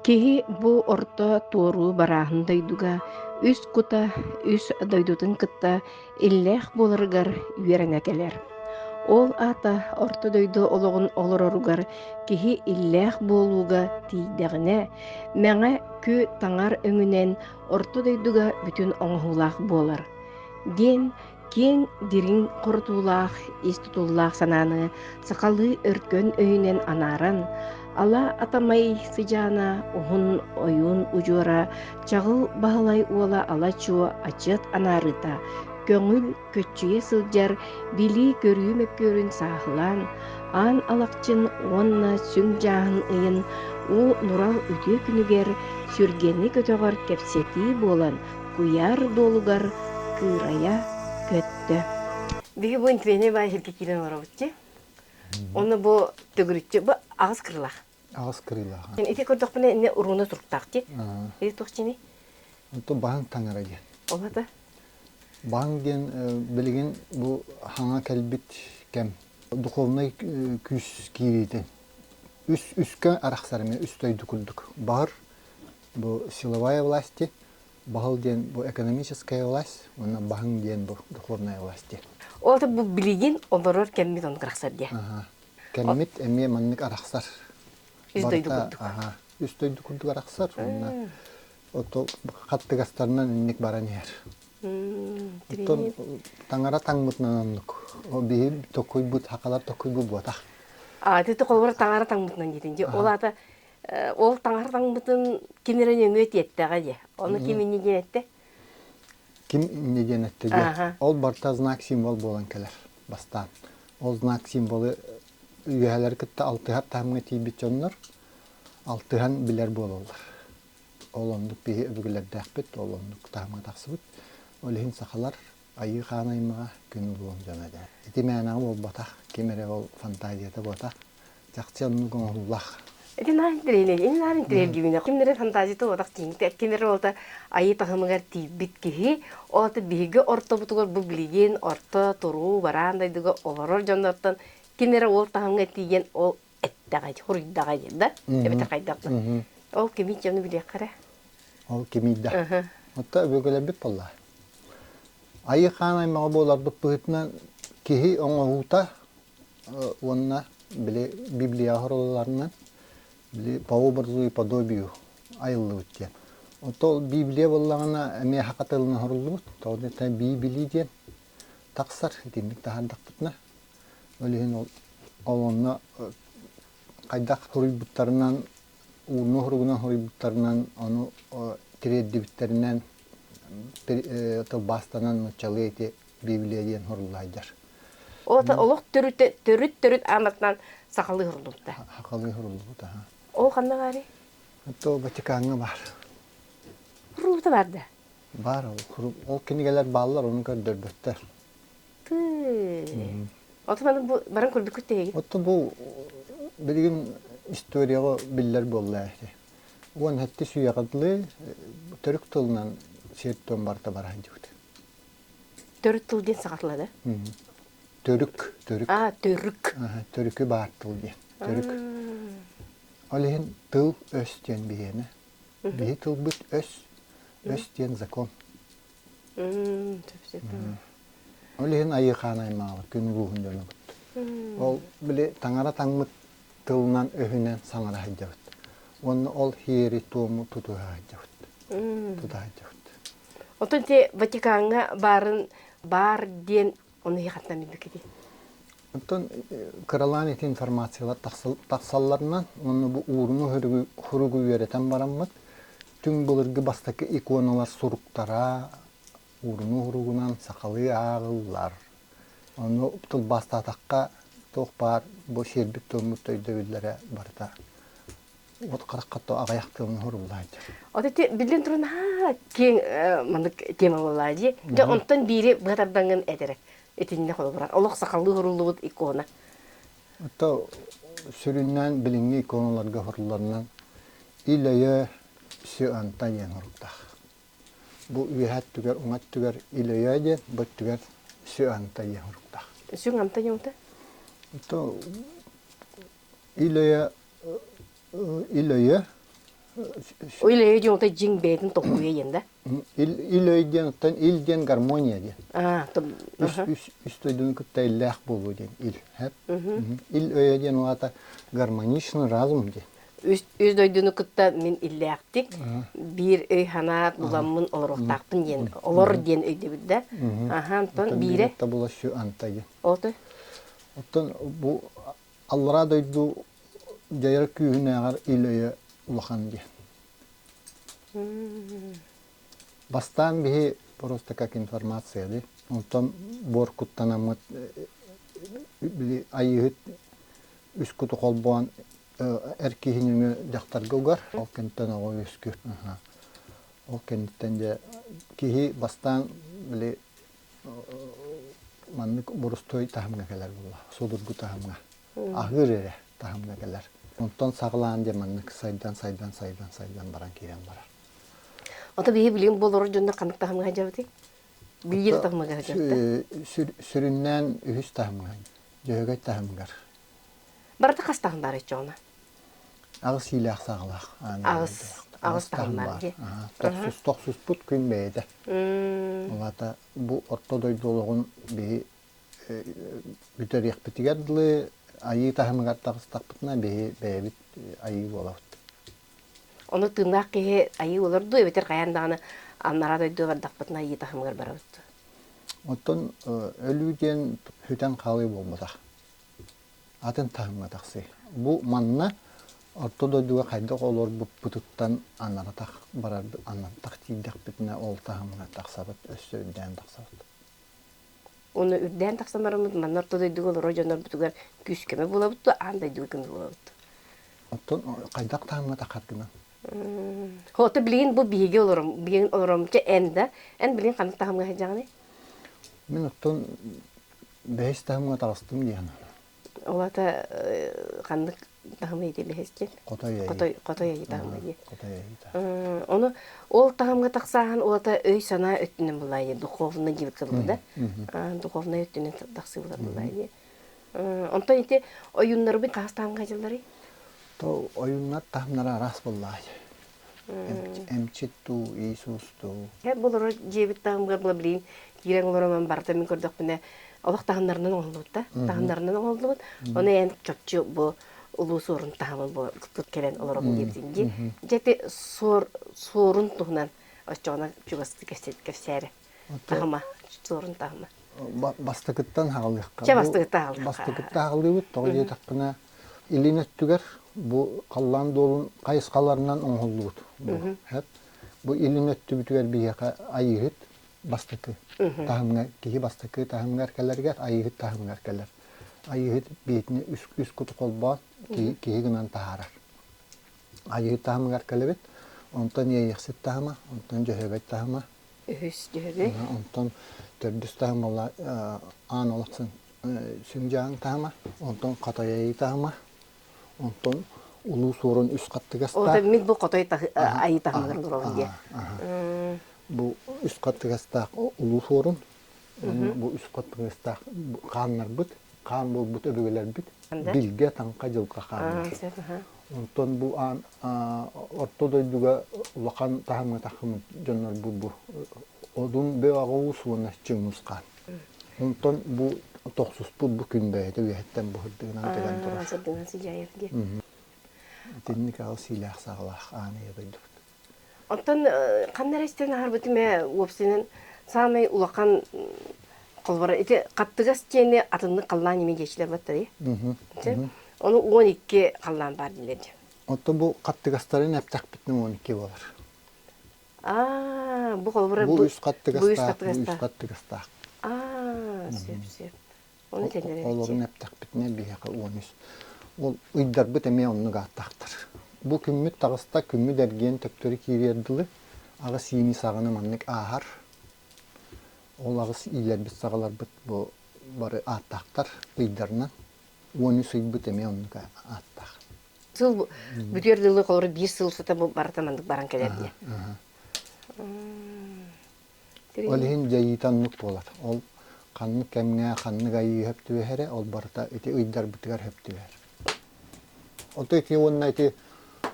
Киһи бу орто туоруу барааһын дойдуга үс кута үс дойдутун кытта иллээх буоларыгар үөрэҥэ кэлэр. Ол аата Орто дойду олоҕун олороругар киһи иллээх буолууга тиийдэҕинэ, мэҥэ кү таҥар өҥүнэн Орто дойдуга бүтүн оҥоһуулаах буолар, диэн киэҥ дириҥ хорутуулаах ис тутуллаах санааны сахалыы өркөн өйүнэн анааран, Ала атамай сыдьаана уһун ойуун удьуора чаҕыл Баһылай уола ала-чуо ачыат анаарыта көҥүл көччүйэ сылдьар билии-көрүү мөккүөрүн сааһылаан аан алахчын уонна сүҥ дьааһын ыйын уу нурал үтүө күнүгэр сүргэни көтөҕөр кэпсэтии буолан куйаар дуолугар кыырайа көттө биһи бу интивейнэй баай иһиргэ киирэн олоробут дии Оны бу төгүрүтчү бу аҕыс кырылаах. Аҕыс кырылаах. Ити көрдөхпүнэ инне урууна туруктаах диир. Ити тухчини. Онту баһын таҥара диэн. Олата. Баһын диэн билигин бу хаҥа кэлбит кэм духовнай күүс киириитин. Үс үскэ арахсарыма үс дойду курдук. Баһыр бу силовая власти, Баһыл диэн бу экономическая власть уонна баһыҥ диэн бу духовная власть диэн. Ол бу билигин олорор кэммит он кырахсар диэ. Кэммит эмиэ маннык арахсар. Үс дойду курдук. Аха. Үс дойду курдук арахсар уонна оту хаттыгастарынан инник баран иһэр. Оттон таҥара таҥмытынан оннук. О биһи токуйбут хакалар токуйбут буотах. А ты холбор таҥара таҥмытынан диетин. Ол ата Ол таҥар таҥмытын ким эрэ нөҥүө тиэттэҕэ дии. Ону ким инньэ диэн эттэ? Ким инньэ диэн эттэ дии. Ол барыта знак символ буолан кэлэр бастаан. Ол знак символы үөһэлэри кытта алтыһар таһымҥа тиийбит дьоннор алтыһан билэр буолаллар. Ол оннук киһи өбүгэлэрдээхпит, ол оннук таһымҥа тахсыбыт. Ол иһин сахалар Айыы хаан аймаҕа күн уруок дьоно этэ. Ити мээнэҕэ буолбатах, ким эрэ ол фантазията буотах, чахчы оннук оҥоһуллах. Ити наһаа интэриэһинэй. Ини наһаа интэриэһиргиибинэ, ким эрэ фантазията буотах тииҥтэ, ким эрэ уолата айыы таһымыгар тиийбит киһи, ол ата биһиги ортобутугар бу билигин орто, туруу, бараан дойдуга олорор дьоннортон ким эрэ уол таһымҥа тиийэн ол эттэҕэ суруйдаҕа диэн да эбэтэр хайдах да ол кимий дьону билиэххэ эрэ ол кимийдэ отто өбүгэлэрбит буолла айыы хаан аймаҕа буоларбыт быһыытынан киһи оҥоруута уонна били библия оһорууларынан били по образу и подобию айыллыбыт диэн отто библия буоллаҕына эмиэ хатылын оһоруллубут тоҕо диэтэр биибилии диэн тахсар итинник таһардахпытына Ол иһин ол ол онно хайдах суруйбуттарынан, ууну суругунан суруйбуттарынан, ону тириэрдибиттэринэн тылбаастанан нууччалыы ити библия диэн суруллайдар. Олата олох төрүт төрүт төрүт аанатынан сахалыы суруллубута. Сахалыы суруллубута. Ол ханна баары? То Ватикаҥҥа бар. Руута бар да? Бар ол ол кинигэлэр бааллар, ону көрдөрбөттөр. Отон аны бу баран курдуккут тиһигин. Оттон бу билигин историяҕа биллэр буолла эти. Уон хатты сүйэҕадлы төрүк тылынан сертон барта баран дьыбыт. Төрүк тыл диэн саҕатыла да? Төрүк, төрүк. А, төрүк. Төрүкү баар тыл диэн. Төрүк. Ол иһин тыл өс диэн биһиэнэ. Биһи тылбыт өс, өс диэн закон. Ол иһин айыхаан аймаҕа күн ууһун дьоно Ол били таҥара таҥмыт тылынан өһүнэн саҥара сылдьабыт. Уонна ол хиэри-туому тутуһа сылдьабыт. Тута сылдьабыт. Оттон те Ватикаҥҥа баарын баар диэн оны хаттан билбиккитий? Оттон кыралаан ити информациялар тахсалларынан, онно бу ууруну хоругу үөрэтэн бараммыт, Түҥ былыргы бастакы иконалар суруктара уурунуу-уругунан сахалыы ааҕыллар. Ону тылбаастаатахха туох баар бу сиэрбит-туоммут өйдөбүллэрэ барыта вот харахха аҕайах тылын оһоруллаан Вот эти биллин турун ха кең маннык тема болла дии. Дьэ онтон биири быһа тардаҥын эдерек. Итинне холобура. Олох сахалыы оһоруллубут икона. Ата сүрүннээн билиҥҥи иконаларга сурулланнан ил-өйө Сю-Антай диэн суруктаах. Бу үөһэ өттүгэр, уҥа өттүгэр ил-өйө диэн, бу өттүгэр Сю-Антай диэн суруктаах. Сүҥ-Антай диэҥтэ? Ил-өйө ил-өйө Ил-өй диэн отой дьиҥ бэйэтин толкуйа диэн да? Ил-өй диэн оттон ил диэн гармония диэн. Аа, үс дойдуну кытта иллээх буолуу диэн ил. Ил-өйө диэн угаата гармоничный разум диэн. Үс дойдуну кытта мин иллээхтик биир өй-санаа буламмын олоруохтаахпын диэн олор диэн өйдөбүт да. Аха, Антон биирэ. Оттон биирэ табула сю анта диэн. Оттон бу Аллараа дойду дьайар күүһүнээҕэр ил-өйө улахан диэн. Бастаан биһи просто как информация ди. Онтон буор куттанаммыт били айыыһыт үс куту холбоон эр киһи нөҥүө дьахтарга угар. Ол кэнниттэн оҕо үөскүүр. Ол кэнниттэн дьэ киһи бастаан били маннык борустуой таһымҥа кэлэр буолла судургу таһымҥа аһыыр эрэ таһымҥа кэлэр онтон саҕалаан диэн маннык сайдан сайдан сайдан сайдан баран киирэн барар ото биһи билигин бу олорор дьоннор ханнык таһымҥа сылдьабытый билиир таһымҥа сылдьабыт сүрүннээн үһүс таһымҥа дьөһөгөй таһымыгар Барыта хастаһын баар эчи оны. Аҕыс иилээх саҕалаах. Аҕыс аҕыс таһын бар дии. Тохсус тохсуспут күн бэйэтэ. Улата бу орто дойду олоҕун биһи бүтэриэхпитигэр дылы айыы таһымыгар таҕыстахпытына биһи бэйэбит айыы буолабыт. Ону тыыннаах киһи айыы олор дуу эбэтэр хайаан даҕаны аннараа дойду бардахпытына айыы таһымыгар барабыт. Оттон өлүү диэн сүтэн хаалыы буолбатах. атын таһымҥа тахсыы. Бу манна орто дойдуга хайдах олорбуппутуттан анарытах барар анартах тиийдэхпитинэ ол таһымҥа тахсабыт өссө үрдээн тахсабыт. Оны үрдээн тахсанарымыт манна орто дойдуга олорор дьоннорбутугар күүскэме булабыт да аан дойдуга булабыт. Оттон хайдах таһымҥа тахаргынан? Хото билигин бу биһиги олором билигин олоромча эн да эн билигин ханнык таһымҥа сылдьаҕыный? Мин оттон бэһис таһымга таҕыстым диэн ол ата ханнык таһымы ити бэһисчин хотой айыы хотой хотой айыы таһымы дии хотой айыы ону ол таһымга тахсааһын ол ата өй санаа өттүнэн булайы духовный диир кылы да духовнай өттүнэн тахсыбыта булайы онтон ити ойуннарбын хастаанга дьыллары то ойуннар таһымнара арас буллай эмчит дуу, Иисус дуу? Болору дьиэбит таһымыгар була билигин киирэн олорон онон барыта мин көрдөхпүнэ олох таһымнарынан оҥоһуллубут да таһымнарынан оҥоһуллубут ону эн чопчу бу улуу суорун таһымын бу кып кэлэн олоробун диэбитин дии дьэ ити суор суорун туһунан оччоҕуна чугастыы кэпсээри таһыма суорун таһыма бастакыттан аҕалыахха чэ бастакытта аҕалыахха бастакытта аҕалыыбыт тоҕо диэтэхпинэ илин өттүгэр бу халлаан дуолун хайысхаларынан оҥоһуллубут бу илин өттүбүтүгэр биһиэхэ айыыһыт бастакы таһымҥа киһи бастакы таһымыгар кэлэригэр айыыһыт таһымыгар кэлэр айыыһыт биһитини үс куту холбоон киһи гынан таһаарар Айыы таһымыгар кэлэбит. Онтон иэйэхсит таһыма, онтон дьөһөөбөт таһыма. Үһүс дьөһөбө. Онтон төрдүс таһыма буолла аан олохсун сүҥдьааҥ таһыма, онтон хатайайыы таһыма, онтон улуу суорун үс хаттыгастаах. Ол эмит бу хотой айыы таһымыгар олорор диэ. Бу үс хаттыгастаах улуу суорун бу үспэт тыҥыстаах хааннарбыт хаан буолбут өбүгэлэрбит билгэ таҥха дьылга хааммыт онтон бу аан орто дойдуга улахан таһымҥа тахыммыт дьоннорбут бу одун бэҕаҕуус уонна чыҥус хаан онтон бу тохсуспут бу күн бэйэтэ үөһэттэн буһырдыынан кэлэн турар сырдынан сыдьаев диэн итинник аҕыс сиилээх саҕалаах ааны дойдубут Оттон ханна эрэ истэн аһарбытым ээ уопсайынан саамай улахан холборо ити хаптыгас диэни атыннык халлаан ими диэчилэр баттарый. Ону он икки халлаан баар диилэр дии. Оттон бу хаттыгастарын эптэхпитинэ он икки болар. Аа, бу холборо бу үс хаттыгастаах, үс хаттыгастаах. Аа, сөп сөп. Олорун эптэхпитинэ биһиэхэ уон үс. Ол ыйдарбыт эмиэ оннук ааттаахтар. Бу күммүт таҕыста, күммүт эргиэн төптөрү киириэр дылы. Аҕыс иини саҕаны маннык ааһар. Ол аҕыс иилэрбит саҕаларбыт бу бары ааттаахтар ыйдарынан. Уон үс ыйбыт эмиэ оннук ааттаах. Сыл бүтүөр дылы холоро биир сыл сыта бу барыта маннык баран кэлэр диye. Ол иһин дьайыыта оннук буолар. Ол ханнык кэмҥэ ханнык айыы сөптүөх эрэ, ол барыта ити ыйдарбытыгар сөптүөх. Оттон ити уонна ити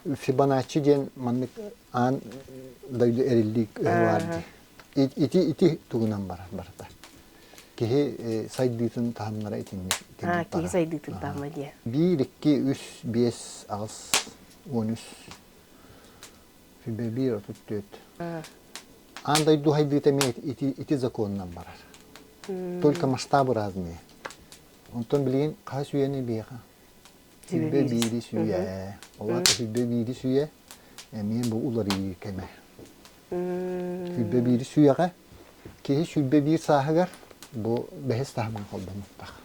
Фибоначчи диэн маннык аан дойду эриллии өһө баар дии. Ити ити тугунан барар барыта. Киһи сайдыытын таһымнара итинник. А, киһи сайдыытын таһыма диэ. Биир, икки, үс, биэс, аҕыс, он үс Сүбэлиир отут түөрт. Аан дойду сайдыыта эмиэ ити законунан барар. Только масштабы разные. Онтон билигин хас үйэни биэҕэ? Сүүрбэ биири сүүйэ. Олох сүүрбэ биири сүүйэ эмиэ бу уларыйыы кэмэ. Сүүрбэ биири сүүйэҕэ. Киһи сүүрбэ биир сааһыгар бу бэһис таһымҥа холбонуохтаах.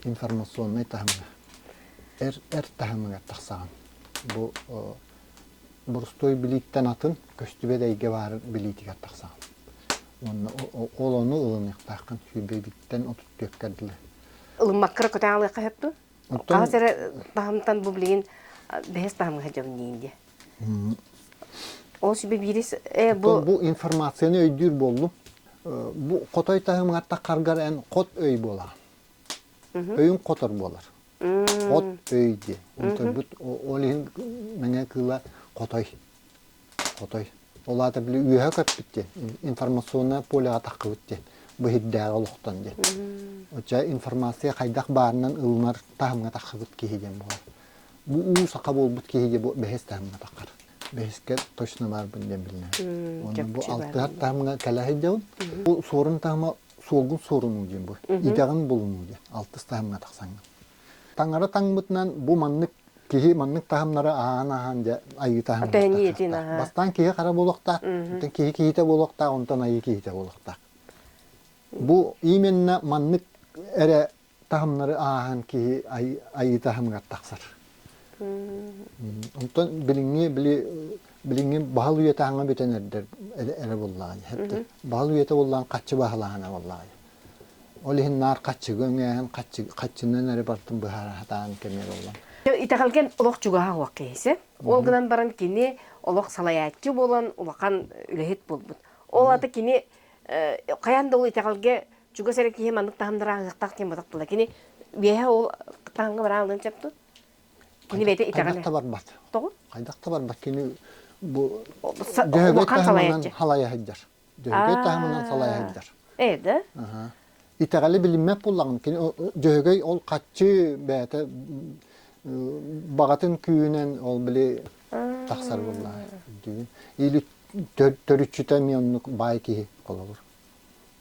Информационнай таһымҥа. Эр эр таһымыгар тахсаҕын. Бу борустуой билииттэн атын көстүбэт эйгэ баарын билиитигэр тахсаҕын уонна ол ону ылыныахтааххын сүүрбэбиттэн отут түөккэр дылы ылыммаккара көтөҕө алыахха сөптүн хаһыс эрэ таһымтан бу билигин бэһис таһымга сылдьабын диин диэ ол сүбэ биирис бу бу информацияны өйдүүр буоллум бу хотой таһымыгар таргаргар эн хот өй буолаҕын өйүҥ хотор буолар От өй диэн. Отойбут ол иһин мэҥэ кыыла хотой. Хотой. Ол аата били үөһэ көппүт диэн. Информационное полеҕа таххыбыт диэн. Быһыйдээҕи олохтон диэн. Оччо информация хайдах баарынан ылынар таһымҥа таххыбыт киһи диэн буолар. Бу уу саха буолбут киһи диэн бу бэһис таһымҥа таххар. Бэһискэ точно баарбын диэн биллэр. Онно бу алтыһар таһымҥа кэлэ сылдьабын. Бу Суорун таһыма суолгун суорунуу диэн бу. Идэҕин булунуу диэн алтыс таһымҥа тахсаҥҥын. Таҥара таҥмытынан бу маннык киһи маннык таһымнары аһаан аһаан дьэ айыы таһымнара бастаан киһи хара буолуохтаах оттон киһи киһитэ буолуохтаах онтон айыы киһитэ буолуохтаах бу именно маннык эрэ таһымнары ааһан киһи айыы таһымыгар тахсар. Онтон билиҥҥи били билиҥҥи баһал үйэ таһыҥа бүтэн эрдэр эрэ буллаҕай. Баһал үйэтэ буллаҕын хаччы баһылаһана буллаҕай. Ол иһин наар хаччыгы өҥөһөн хаччынан эрэ бартын быһаратаан кэмиэр боллон. Итэҕэлгэн олох чугаһаан уох киһисе. Ол гынан баран кини олох салайааччы буолан улахан үлэһит буолбут. Ол аты кини хайаан да ол итэҕэлгэ чугас эрэ киһи маннык таһымнара аһыахтаах диэн батах тула. Кини үөһэ ол таһымга бараалынан сөпту. Кини бэйэтэ итэҕэлэ. Хайдах да барбат. Тоҕо? Хайдах да барбат кини бу дьөһөгөй таһымынан халайа сылдьар. Дьөһөгөй таһымынан салайа сылдьар. Ээ да? Итэҕэли билиммэт буллаҕын. Кини дьөһөгөй ол хаччы бэйэтэ баҕатын күүһүнэн ол били тахсар буолла. Төрүччүтэ эмиэ оннук баай киһи холобур.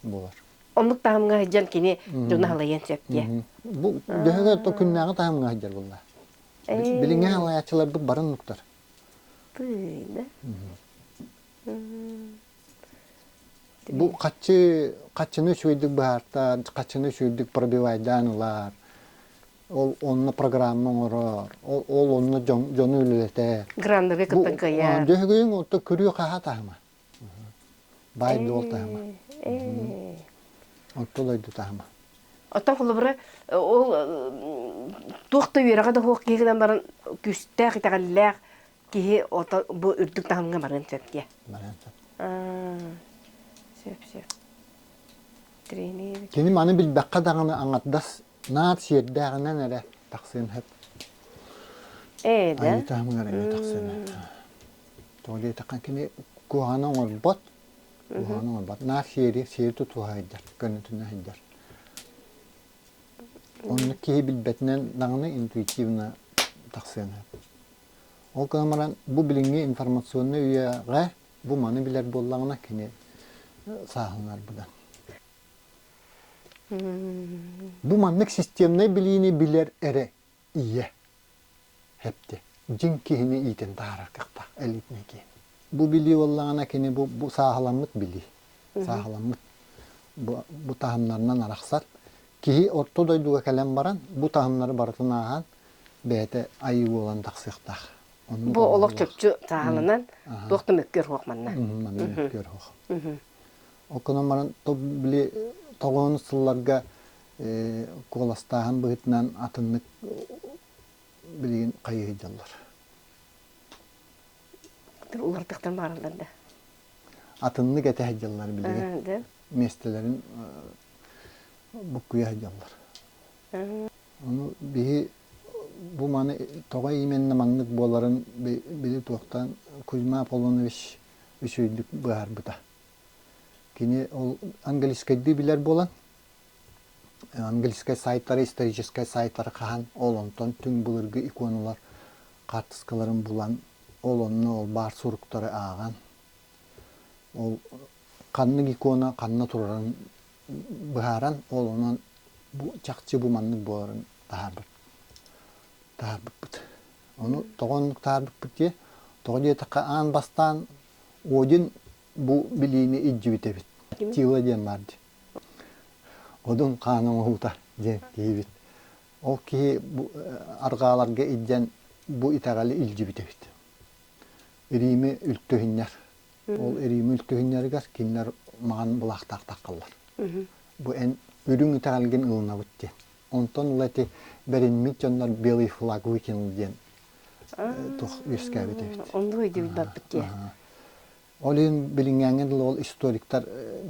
булар. Оннук таһымҥа сылдьан кини дьону халайыан сөп диye. Бу дөһөгө то күннээҕи таһымҥа сылдьар булла. Билиҥҥи халайааччыларбыт барын нуктар. Бу хаччы хаччыны үчүгэйдик быһаартан, хаччыны үчүгэйдик пробивайдаан ылар. Ол онна программа оҥорор, ол онно дьону үлэлэтэр. Граннары кытта кыйар. Дөһөгөйүн отто күрүө хаһа таһыма. баай дуол таһыма отто дойду таһыма Оттон холобура ол туох да үөрэҕэ да суох киһи гынан баран күүстээх итэҕэллээх киһи ото бу үрдүк таһымҥа баран сөптүө. Баран сөп. Сөп сөп. Тренер. Кини маны билбэххэ даҕаны аңардас Наат сиэрдээҕинэн эрэ тахсыан сөп. Ээ да. Айыы таһымыгар эрэ тахсыан Тоҕо диэтэххэ кини куһаҕаны оҥорбот, куһаҕаны оҥорбот. Наат сиэри, сиэри тутуһа сылдьар, көннөтүнэ сылдьар. Оннук киһи билбэтинэн даҕаны интуитивно тахсыан сөп. Ол гынан баран бу билиҥҥи информационнай үйэҕэ бу маны билэр буоллаҕына кини сааһыланар быдан. Бу маннык системнай билиини билэр эрэ ийэ эптэ дьиҥ киһини иитэн таһаарар кыахтаах элитнэй киһи. Бу билии буоллаҕына кини бу, бу сааһыламмыт билии. Сааһыламмыт бу, бу таһымнарынан арахсар. Киһи орто дойдуга кэлэн баран бу таһымнары барытын ааһан бэйэтэ айыы буолан тахсыахтаах. Ону бу олох чопчу сааһыланан туох да мөккүөр хуох манна. Манна мөккүөр хуох. Ол гынан баран били тоҕоон сылларга куоластааһын быһыытынан атыннык билигин хайыы сылдьаллар. Улартыктан бараллар да. Атыннык этэ сылдьаллар билигин. Миэстэлэрин буккуйа сылдьаллар. Ону биһи бу маны тоҕо именна маннык буоларын били туохтан Кузьма Аполлонович үчүйдүк быһаарбыта. Кини ол английскайдыы билэр буолан, английскай сайтары, историческай сайтары хаһан, ол онтон түҥ былыргы иконалар хаартыскаларын булан, ол онно ол баар суруктары ааҕан, ол ханнык икона ханна турарын быһааран, ол онон бу чахчы бу маннык буоларын таһаарбыт таһаарбыппыт. Ону тоҕо оннук таһаарбыппыт диye, тоҕо диэтэххэ аан бастаан Один бу билиини илдьибит эбит. Тила диэн баар дии. Одун хаан оҥоһуута диэн диэбит. Ол киһи бу аргааларга илдьэн бу итэҕэли илдьибит эбит. Рими үлтүһүннэр. Ол Рими үлтүһүннэригэр кинилэр маҕан былаахтаахтар халлар. Бу эн үрүҥ итэҕэлгин ылынабыт диэн. Онтон ыла ити бэриммит дьоннор белый флаг выкинул диэн туох үөскээбит эбит. Оннук өйдүүр барбыт диэ. Ол иһин билиҥҥээҥҥэ дылы ол историктар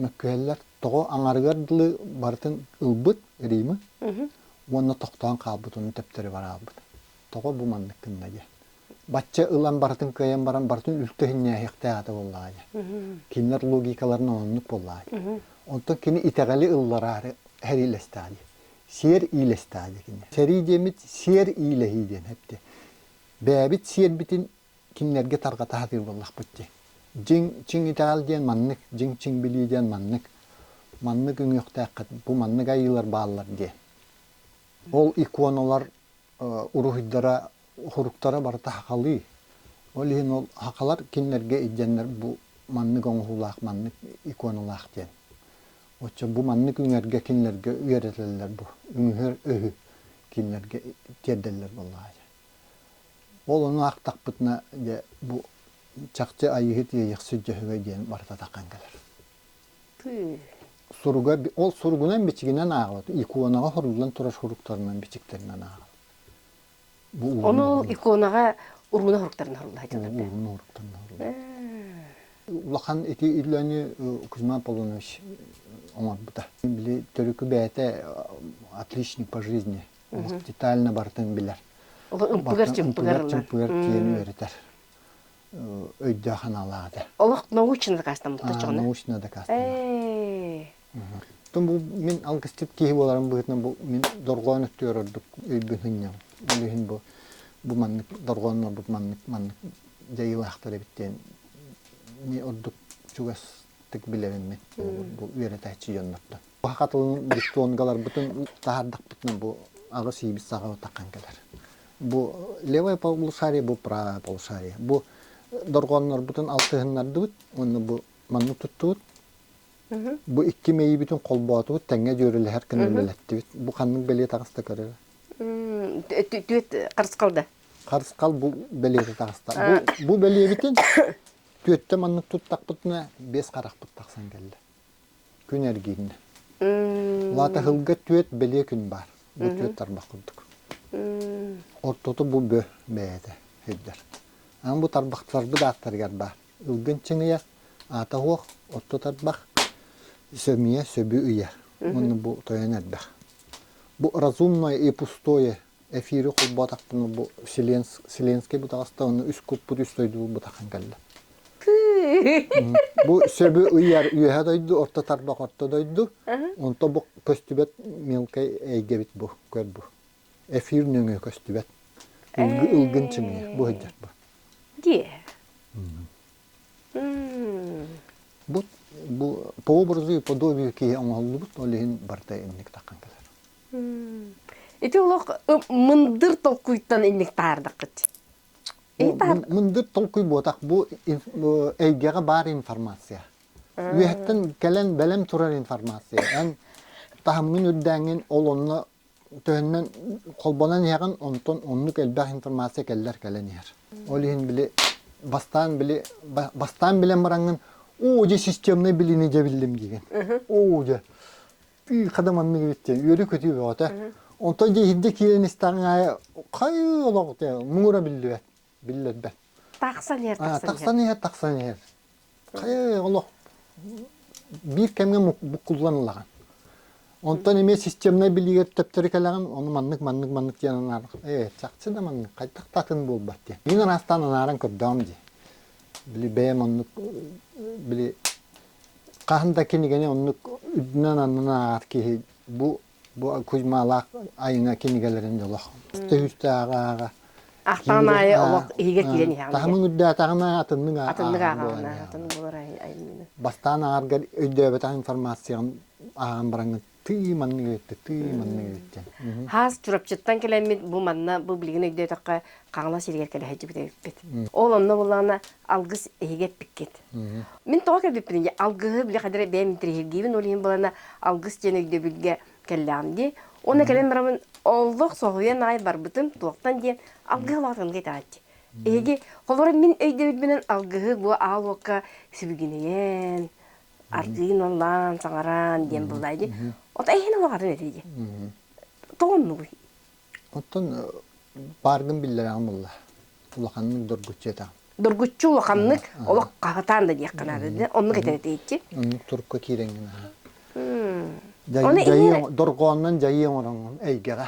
мөккүһэллэр. Тоҕо аҥарыгар дылы барытын ылбыт Римы уонна тохтоон хаалбыт, ону тэптэри бараалбыт. тоҕо бу маннык гынна диэн. Бачча ылан барытын кыайан баран барытын үлтэ иһиннээһиэхтээх этэ буоллаҕа диэн. Кинилэр логикаларын оннук буоллаҕа диэн. Онтон кини итэҕэли ыллараары сэриилэстэҕэ дии. Сиэр иилэстэҕэ дии кини. Сэрии диэммит сиэр иилэһии диэн эптэ. Бэйэбит сиэрбитин кинилэргэ тарҕата сатыыр буоллахпыт дии. Дьиҥ чиҥ итэҕэл диэн маннык, дьиҥ чиҥ билии диэн маннык. Маннык үҥүөхтээххит, бу маннык айыылар бааллар диэн. Ол иконалар уруһуйдара, суруктара барыта хахалыы. Ол иһин ол хахалар кинилэргэ илдьэннэр бу маннык оҥоһуулаах, маннык иконалаах диэн. Оччо бу маннык үҥэргэ кинилэргэ үөрэтэллэр бу үҥүһэр өһү кинилэргэ тиэрдэллэр буоллаҕа дьэ. Ол ону аахтахпытына дьэ бу чахчы Айыыһыт иэйэхсит дьөһөгөй диэн барыта таххан кэлэр. суруга ол суругунан бичигинэн ааҕабыт иконаҕа хоруллан турар суруктарынан бичиктэринэн ааҕабыт ону иконаҕа урууна хоруктарын хорулла сыталар урууна хоруктарын хорулла улахан ити үлэни Кузьма Полунович оҥорбута били төрүкү бэйэтэ отличник по жизни детально бартын билэр чымпыгар чымпыгар тиэн үөрэтэр өйдөөх-аналаах этэ. Олох научно дакаастаммыттар чоҕуна? Научно дакаастаммыт. Тон бу мин алгысчыт киһи буоларым быһытынан бу мин дорҕоон өттүгэр ордук өйбүн сынньам. Өлүһүн бу бу маннык дорҕооннорбут маннык маннык дьайыылаахтар эбит диэн ми ордук чугастык билэриммит бу үөрэтээччи дьоннортон. Саха тылын диктонгаларбытын таһаардахпытына бу аҕыс ийибит саҕа таххан кэлэр. Бу левое полушарие, бу правое полушарие. Бу дорҕооннорбутун алтыһыннардыбыт уонна бу манна туттубут. Бу икки мэйибитин холбоотубут, тэҥҥэ дьүөрэлэһэр гына үлэлэттибит. Бу ханнык бэлиэ таҕыста көрөрө? Түөт харысхал да? Харысхал бу бэлиэтэ таҕыста. Бу бэлиэбитин түөттэ маннык туттахпытына, бес харахпыт тахсан кэллэ. Күн эргиннэ. Лаатаһылга түөт бэлиэ күн баар. Бу түөт тарбах курдук. Ортото бу бө бэйэтэ сирдэр. Ам бу тарбахтарбыт ааттарыгар баар. Ылгын чыҥыйар, аата оһуох, орто тарбах, сөмүйэ, сөбү ыйар. Онно бу тойон эрбэх. Бу разумное и пустое эфири холбоотахпына бу Вселенский бутаҕаста уонна үс куппут үс дойдубут бутахан кэллэ. Бу сөбү ыйар үөһэ дойду, орто тарбах орто дойду. Онто бу көстүбэт мелкай эйгэбит бу, көр бу. Эфир нөҥө көстүбэт. Ылгын чимиэ, бу хыддьат бу. Дие. Бу бу по образу и подобию киһи оҥоһуллубут, ол иһин барыта инник таққан кэлэр. Ити олох мындыр толкуйтан инник таардаккыт. Мындыр толкуй буотах бу эйгэҕэ баар информация. Үөһэттэн кэлэн бэлэм турар информация. Эн таһымҥын үрдээҥҥин ол онно төһөннөн холбонон иһэҕин, онтон оннук элбэх информация кэллэр кэлэн иһэр. Ол иһин били бастаан били бастаан билэн бараҥҥын оо дьэ системнай билиини дьэ биллим диигин. Оо дьэ хада маннык битте үөрү көтүү бөҕөтө онтон дьэ иһирдэ киирэн истэҕиҥ аайы хайыы олох те муҥура биллибэт биллэрбэт тахсан иһэр тахсан иһэр тахсан иһэр хайыы олох биир кэмҥэ буккуллан ылаҕын онтон эмиэ системнай билиигэр төптөрү кэлэҕин ону маннык маннык маннык диэн анаары ээ чахчы да маннык хайдах да атын буолбат диэн мин араастаан анааран көрдөҕүм дии били бэйэм оннук били хаһан да кинигэни оннук үрдүнэн аннынан ааҕар киһи бу бу Кузьмалаах айына кинигэлэрин олох төһүстээҕэ ааҕа ахтаан аайы олох иһигэр киирэн иһэҕин таһымын үрдээтэҕинэ атыннык атыннык ааҕаҕына атыннык болар айымньыны бастаан ааҕаргар өйдөөбөтөх информацияҕын ааҕан бараҥҥын Тыы манны үөттэ, тыы манны үөттэ. Хаас Чурапчыттан кэлэммит бу манна бу билигин өйдөөтөххө Хаҥалас сиригэр кэлэһэйдьибит эбиппит. Ол онно буоллаҕына алгыс эһиги эппиккит. Мин тоҕо кэлбиппин дии, алгыһы били хайдары бэйэм интэриэһиргиибин ол иһин болана алгыс диэн өйдөбүлгэ кэллэҕим дии. Уонна кэлэн барамын олох соһуйан аайы барбытым туохтан диэн алгыһы улаатынга итэҕэччи. Эһиги холобура мин өйдөбүлбүнэн алгыһы бу аал уокка сүбүгинэйэн ардыын ыллаан, саҥаран диэн буллаай дии. Отой иһин олоҕорун этии дии. Тоҕо оннугуй? Оттон бааргын биллэрэҕин булла. Улаханнык доргуччу этэҕин. Доргуччу улаханнык олох хаһытаан да диэххэ наада да оннук этэн этээччи. Оннук турукка киирэҥҥин аһа. Дьайыы дорҕооннон дьайыы оҥороҥҥун эйгэҕэ.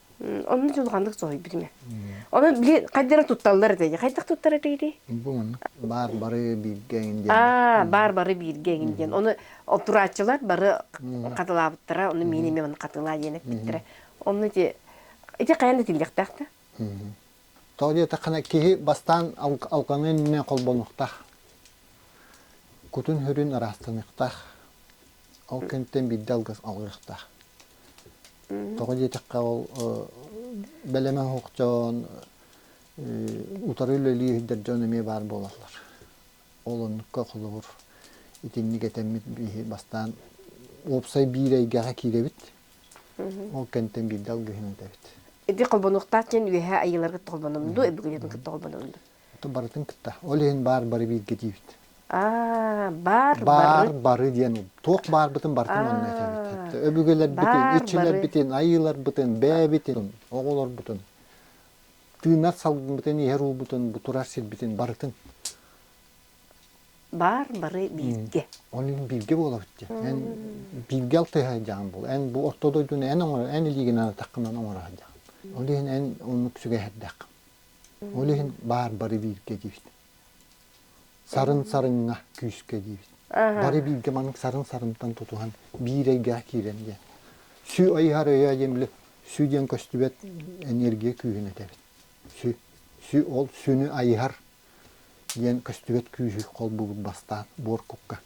Онун дьулҕаннык соһуйбутум. Онон били хайдары тутталлар этэй? Хайдах туттар этигитий? Бу маннык баар бары бииргэ эҥин диэн. Аа, баар бары бииргэ эҥин диэн. Ону отурааччылар бары хатылаабыттара. Ону миин эмиэ маны хатылаа диэн эппиттэрэ. Онно ити ити хайан да тиллиэхтээх да. Тоҕо диэтэххинэ киһи бастаан алҕаныа иннинэ холбонуохтаах. Кутун-сүрүн ыраастаныахтаах. Ол кэнниттэн биирдэ алгыс алҕыахтаах. Тоҕо диэтэххэ ол бэлэмэ суох дьон утары үлэлии иһэрдэр дьон эмиэ баар буолаллар. Ол оннукка холобур итинник этэммит биһи бастаан уопсай биир эйгэҕэ киирэбит. Ол кэнтэн биирдэ алгыһын этэбит. Ити холбонуохтаах диэн үөһээ айыыларгыт толбонунду, бүгүнүгүтүн кытта холбонунду. Ото барытын кытта. Ол иһин баар бары бииргэ диибит. Аа, баар, баар бары диэн туох баарбытын барытын онно этэбит. Өбүгэлэрбитин, иччилэрбитин, айыыларбытын, бэйэбитин, оҕолорбутун, тыынар салгыммытын, иһэр уубутун, бутурар сирбитин барытын. Баар бары бииргэ. Оны бииргэ буолабыт дия. Эн бииргэ алтыһа дьаң бул. Эн бу орто дойдуну эн оңор, эн илиигинен атаккынан оңора дьаң. Ол иһин эн оннук сүгэһэрдэх. Ол иһин баар бары бииргэ диибит. Сарын сарыҥҥа күүскэ диибит. Бары бииргэ маннык сарын сарынтан тутуһан биир эйгэҕэ киирэн диэн. Сү айыһар өйө диэн били сү диэн көстүбэт энергия күүһүн этэбит. Сү, сү ол сүнү айыһар диэн көстүбэт күүһү холбуубут бастаан буоркукка.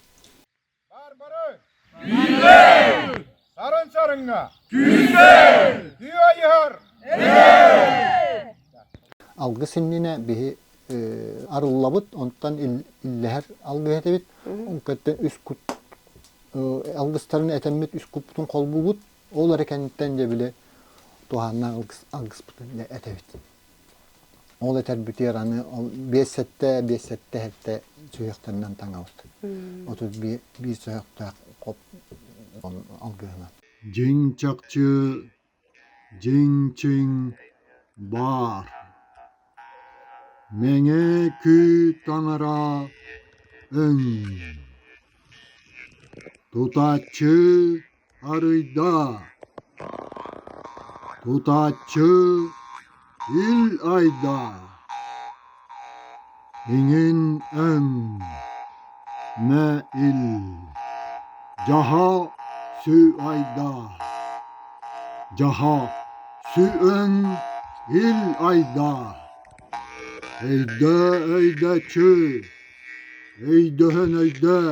Түүндэл! Сарын сарыҥҥа! Түүндэл! Түү айыһар! Алгыс иннинэ биһи арыллабыт, онтон иллэһэр алгыс этибит. Кытта үс кут алгыстарын этэммит үс куппутун холбуубут. Ол эрэ кэнниттэн дьэ били туһааннаах алгыспытын этэбит. Ол этэрбитигэр аны биэс сэттэ, биэс сэттэ эртэ сүһүөхтэринэн таҥабыт. Отут биир сүһүөхтээх хоп алгыһынан. Дьиҥ чахчы, дьиҥ чиҥ баар. Мэҥэ күй таҥара өҥ. Тутаччы Арыйдаа, тутааччы ил айдаа, иҥин эн, мэ ил, дьаһа сү айдаа, дьаһа сү өн ил айдаа, өйдөө өйдөөччү, өйдөһөн өйдөө.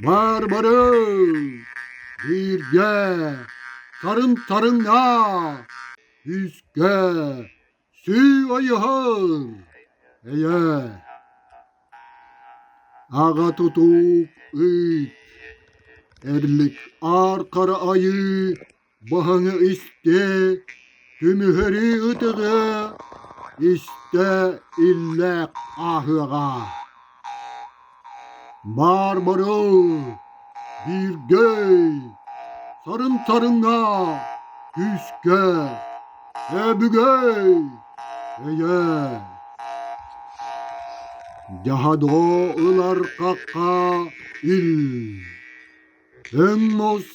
Мармары! Бииргэ! Сарын-сарыннаа! Үскэ! Сүү ойуһун! Эйэ! Аҕа тутуук ыйт! Эрлик аар хара айыы! Баһаҥа истэ, түмүһэри ытыга, истэ иллээх ааһыаҕа. Баар барыл, бииргэй, сарын-сарыҥа, күүскэ, өбүгэй, эйэ. Дьаһадо ылар хахха ил. Ыннус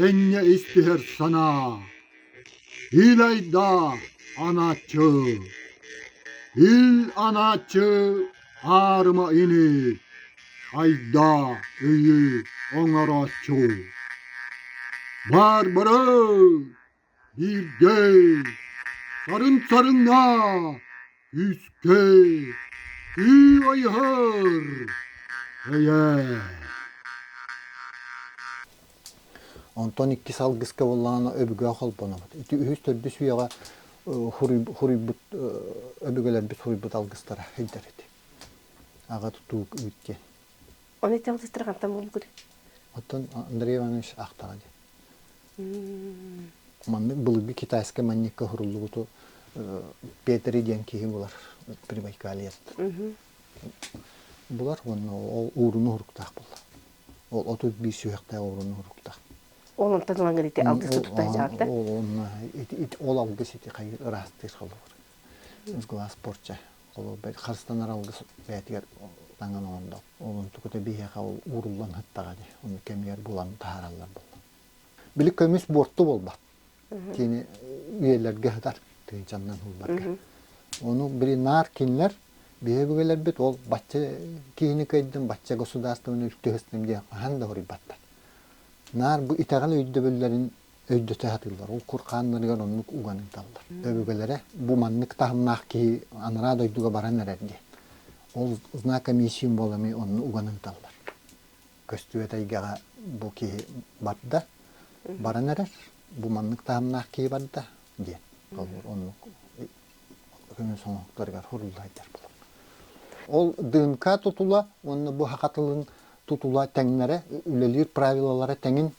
энньэ истиһэр санаа, Илайдаа анааччы, Ил анааччы аарыма ини, Айдаа ыйы оҥорооччу. Барбары! Биирдэй, сарын-сарыннаа, күүскэй, күү айыһар, эйээ. Онтон иккис алгыска буоллаҕына өбүгэ холбонобут. Ити үһүс төрдүс үйэҕэ хуруйбут өбүгэлэрбит хуруйбут алгыстара сылдьар ити. Аҕа тутуук үүт диэн. Оны эти алгыстара хантан буолбут? Оттон Андрей Иванович ахтаҕа диэн. Маннык былыргы китайскай манньыкка суруллубуту Петри диэн киһи булар Прибайкалиет. Булар уонна ол ууруну уһуруктаах буолла. Ол отут биир сүһэхтээх ууруну уһуруктаах. Ол онтон тылан кэлити алгыс туттаа чаанта. Онна ол алгыс ити хайы ыраастыыр холобур. Глаз порча. Холобур харыстанар алгыс бээтигэр таҥан оҥондо. онтукута биһиэхэ ууруллан сыттаҕа дии ону кэмигэр булан таһаараллар буолла били көмүс буорту буолбат кини үйэлэргэ сытар тыынчаннан уулларга ону били наар кинилэр биһиги өбүгэлэрбит ол бачча киһини кыайдым бачча государствоны үлтү сыстым диэн хаһан да хоруйбаттар наар бу итэҕэл өйдөбүллэрин өйдөтө сатыыллар. Ол кур хааннарыгар оннук уган ыыталлар. Өбүгэлэрэ бу маннык таһымнаах киһи анараа дойдуга баран эрэр диэн. Ол знак комиссиум буолами онну уган ыыталлар. Көстүбэт эйгэҕэ бу киһи барда, баран эрэр. Бу маннык таһымнаах киһи барда диэн. Толлор оннук көмө сонуктарыгар суруллайдар булун. Ол дынка тутула уонна бу хаха тылын тутула тэҥнэрэ үлэлиир правилалара тэҥин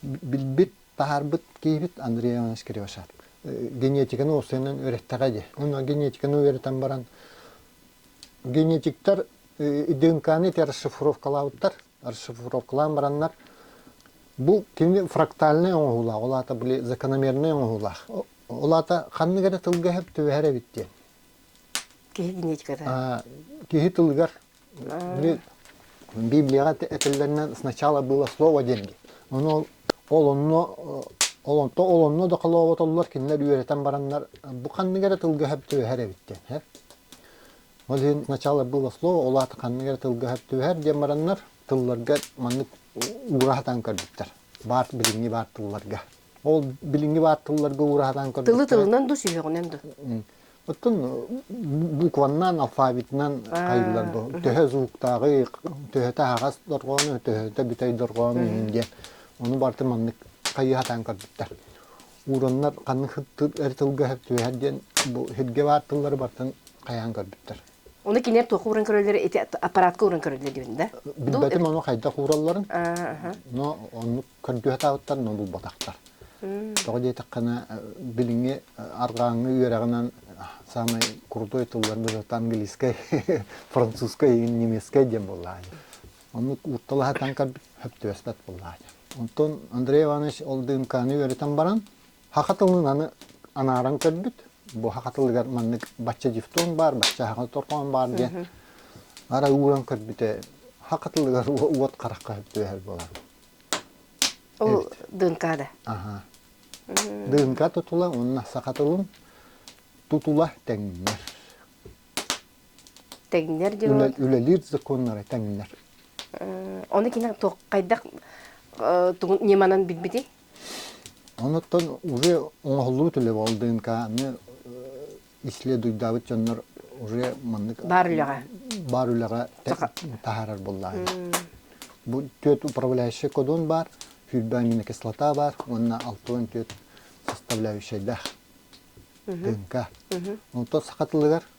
билбит таһаарбыт киһибит Андрей Иванович Кривошад генетиканы уоссайынан үөрэттэҕэ дии. Онно генетиканы үөрэтэн баран генетиктар ДНК-ны расшифровкалаабыттар расшифровкалаан бараннар бу кини фрактальнай оҥоһуулаах, ол аата били закономернай оҥоһуулаах. Ол аата ханнык эрэ тылга эһэр түбэһэр эбит диэн. Киһи генетиката. Киһи тылыгар Библияҕа этэллэринэн сначала было слово деньги. Ону ол онно ол онто ол онно да холооботоллор кинилэр үөрэтэн бараннар бу ханнык эрэ тылга эһэр түбэһэр эбит диэн. Ол иһин начало было слово, ол аата ханнык эрэ тылга түһэр диэн бараннар, тылларга маннык уура сатаан көрбүттэр. Баар билиҥҥи баар тылларга. Ол билиҥҥи баар тылларга уура сатаан көрбүттэр. Тылы тылынан да сүһүөҕүнэн да. Оттон букваннаан, алфавитынан хайыылар бу төһө звуктааҕы, төһөтө аһаҕас дорҕоону, төһөтө бүтэй дорҕоону иһин диэн. Ону барыта маннык хайыы сатаан көрбүттэр. Уураннар ханнык эр тылга түһэр диэн бу сиргэ баар тыллары бартан хайаан көрбүттэр. Оны кинилэр туохха ууран көрөллөр ити аппаратка ууран көрөллөр диэн да? Билбэтим ону хайдах ууралларын. Но оннук көргүһатаабыттар, но булбатахтар. Тоҕо диэтэххэне билиҥи арҕааҥҥы үөрэҕинэн самый крутой тыллар быһыта английскай, французскай, немецкай диэн буоллаҕа. Оннук уутталаһатан сөптүөспэт буоллаача. Онтон Андрей Иванович ол ДНК-ны үөрэтэн баран, Һаха тылын аны анааран көрбүт. Бу Һаха тылыгар маннык бачча дифтонг баар, бачча Һаха торҕоон баар диэн. Ара ууран көрбүтэ, Һаха тылыгар уот харахха түһэр буолар. Ол ДНК да? Аха. ДНК тутула уонна саха тылын тутула тэҥнэр. тэҥнэр дьон үлэлиир законнары тэҥнэр оны кинең хайдах ньыманан билбити онуттан уже оңоһуллубут үлэ болдынка аны исследуйдаабыт дьоннор уже маннык бар үлэҕэ бар үлэҕэ таһаарар буллаһын бу түөт управляющий кодон бар сүүрбэ аминокислота бар уонна алты он түөт составляющайдах дынка онтон сахатылыгар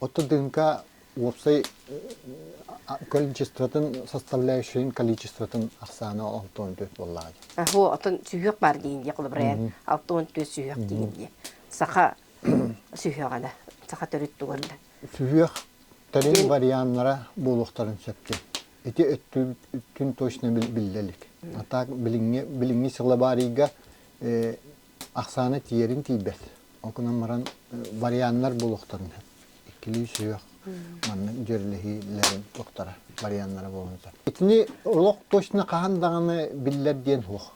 Оттон тыынка уопсай количествотын составляющайын количествотын ахсаана алтан төрт буоллаҕа дии. Аһу, отон сүһүөх баар диин диэ холобурайан алтан төрт сүһүөх диин диэ. Саха сүһүөҕэ да, саха төрүт туган да. Сүһүөх тэрин варианнара буолуохтарын сөпкө. Ити өттүн точно биллэлик. А так билиҥҥи сылабаарыйга ахсаана тиийэрин тиийбэт. Ол гынан баран варианнар булуохтарын сөп. Иккилии сүһүөх маннык дьүөрэлэһиилэр туохтара варианнара буолан сөп. Итини олох точно хаһан даҕаны биллэр диэн суох.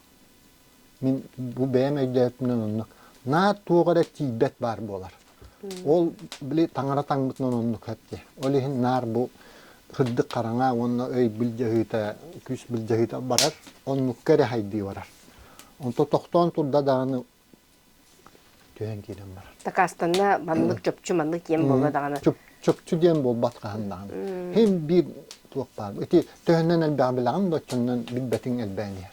Мин бу бэйэм өйдөөбүтүнэн оннук. Наа туох эрэ тиийбэт баар буолар. Ол били таҥара таҥмытынан оннук эпти. Ол иһин наар бу кырдык хараҥа уонна өй былдьаһыыта, күүс былдьаһыыта барар, оннукка эрэ хайдыы барар. Онто тохтоон турда даҕаны түһэн киирэн барар. Такаастанна маннык чопчу маннык киэн буолла даҕаны. Чопчу диэн буолбат хаһан даҕаны. Һим биир туох баар. Ити төһөнөн элбэҕи билэҕин да оччонон билбэтиҥ элбээн иһэр.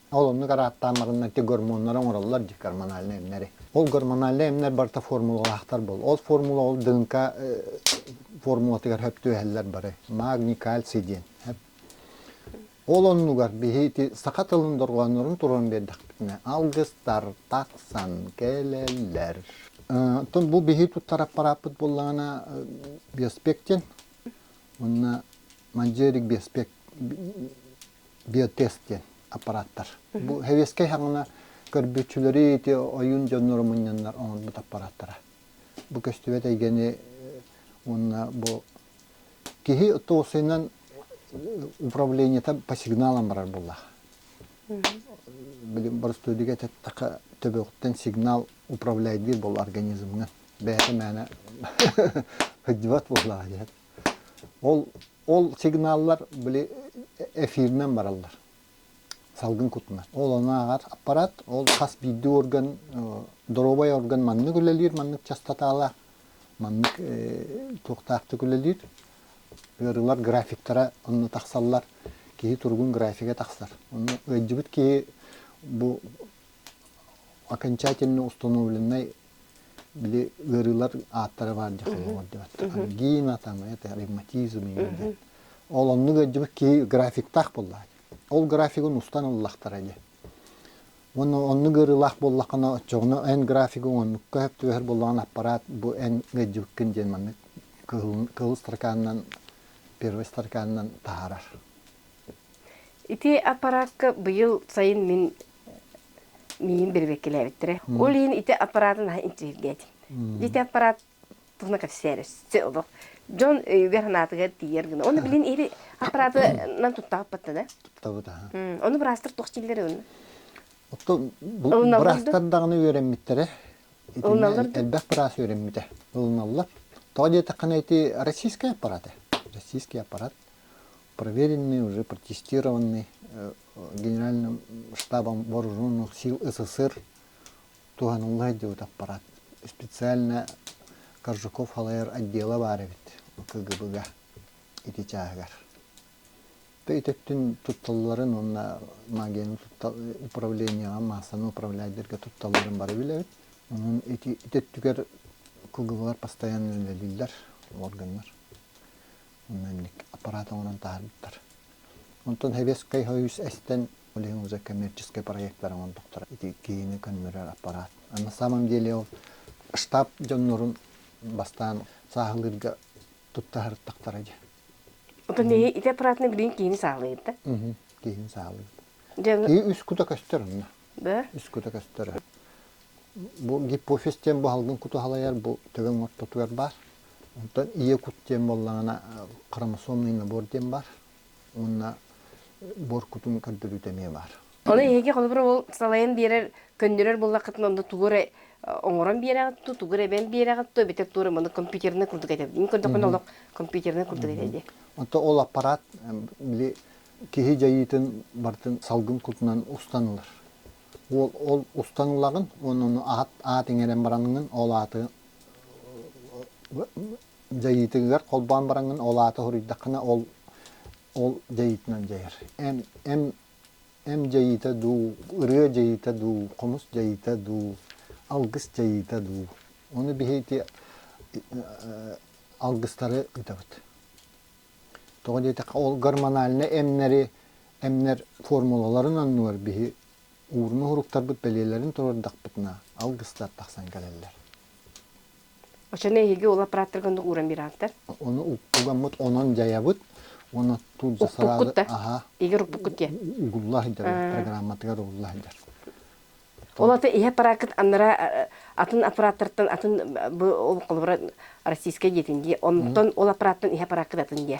Ол оннук арааттаамматынан ити гормоннары оҥороллор дии гормональнай эмнэри. Ол гормональнай эмнэр барыта формулалаахтар буол. Ол формула ол дыҥка формулатыгар сөп түөһэллэр бары. Магний, кальций диэн сөп. Ол оннугар биһи ити саха тылын дорҕооннорун туруоран биэрдэхпитинэ алгыстар тахсан кэлэллэр. Оттон бу биһи туттар аппарааппыт буоллаҕына биоспект диэн. Уонна манджерик биоспект биотест диэн аппарааттар. Бу хэбиэскэй хаҥана көрбүччүлэри ити ойун дьоннору мунньаннар оҥорбут аппарааттара. Бу көстүбэт эйгэни уонна бу киһи туосунан управлениета по сигналам барар буоллаах. Билим боростуодига эттэххэ төбөҕүттэн сигнал управляйдыыр бол организмынан бэйэтэ мээнэ сылдьыбат буоллаҕа диһэн Ол, ол сигналлар били эфиринэн бараллар салгын кутунан. Ол онааҕар аппарат, ол хас биирдии орган, доруобай орган маннык үлэлиир, маннык частотаалаах, маннык туохтаахтык үлэлиир. Ыарыылар графиктара онно тахсаллар, киһи туругун графига тахсар. Ону ыалдьыбыт киһи бу окончательно установленнай били ыарыылар ааттара баар дьэ хайалар дебаттар гина там это ревматизм диэн ол оннук өйдүбүт ки графиктаах буолла ол графигын устан ыллахтара дьэ уонна оннук ыарыылаах буоллаххына оччоҕуна эн графигы оннукка хөп түбэһэр боллоҕун аппарат бу эн өйдүбүккүн диэн маннык кыһыл стаканынан первый стаканынан таһаарар ити аппаратка быйыл сайын мин миин бэрбеккилээбиттэрэ. Ол иһин ити аппаратын аһа интеллигеэтин. Ити аппарат туһуна кэпсээр өссө олох. Дьон өйүгэр санаатыгар тиийэр гына. Оны билин иһи аппаратынан туттааппатта да. Туттабыт аха. Оны быраастыр туох чиллер онна. Отто быраастар даҕаны үөрэммиттэрэ. Элбэх быраас үөрэммитэ. Ылыналлар. Тоҕа диэтэххэ эти российский аппарат. Российский аппарат проверенный, уже протестированный генеральным штабом вооруженных сил СССР туһанылла сылдьыбыт аппарат специально Коржуков халайар отдела баар эбит КГБ-га ити чааһыгар. Итеттин тутталларын уонна магияны управлениега массаны управляйдерге тутталларын бары билэбит. Онон ити итеттүгэр КГБлар постоянно үлэлииллэр органнар. манник аппарат оҥорон таһаарбыттар. Онтон Хевеска үс эстэн Улиһын за коммерческай проектар оҥордохтор. Ити киһини көннөрөр аппарат. А на самом деле ол штаб дьоннорун бастаан сааһылыырга туттаһартахтара дьэ. Отон эһи ити аппаратны билин киһини саалыйыт да? Киһини саалыйыт. Киһи үс кута көстөр онно. Бө? Үс кута көстөр. Бу гипофиз диэн бу халгын куту халайар бу төбөҥ ортотугар баар. Онтон ийэ кут диэн буоллаҕына хромосомный набор диэн бар уонна буор кутун көрдөрүүтэ эмиэ баар. Ону эһиги холобура ол салайан биэрэр, көннөрөр буллаххытына онно тугу эрэ оҥорон биэрэҕит ту, тугу эрэ эбэн биэрэҕит ту, эбэтэр туора маны компьютернай курдук этэр. Мин көрдөхпүнэ олох компьютернай курдук этэ дии. Онтон ол аппарат били киһи дьайыытын барытын салгын кутунан устан ылар. Ол ол устан ылаҕын уонна ону аат аат иҥэрэн бараҥҥын ол ааты дьайыытыгар холбоон бараҥҥын ол аата хоруйдаххына ол ол дьайыытынан дьайар эн эн эн дьайыыта дуу ырыа дьайыыта дуу хомус дьайыыта дуу алгыс дьайыыта дуу ону биһиити алгыстары ыытабыт тоҕо диэтэххэ ол гормональнай эмнэри эмнэр формулаларын оннугар биһи Уурун уһуруктарбыт бэлиэлэрин толордохпутуна алгыстар тахсан кэлэллэр. Очаны эһиги ол аппарааттарга ону ууран бираантар? Ону угуламмыт онон дьайабыт уонна тут за сразу аха егер уппуккут диэн угулла сылдьар программатыгар угулла сылдьар. Ол аты ihe аппарааккыт аннара атын аппараттартан атын бу ол холобура российскай диэтин дии онтон ол аппараттан ihe аппарааккыт атын диэ.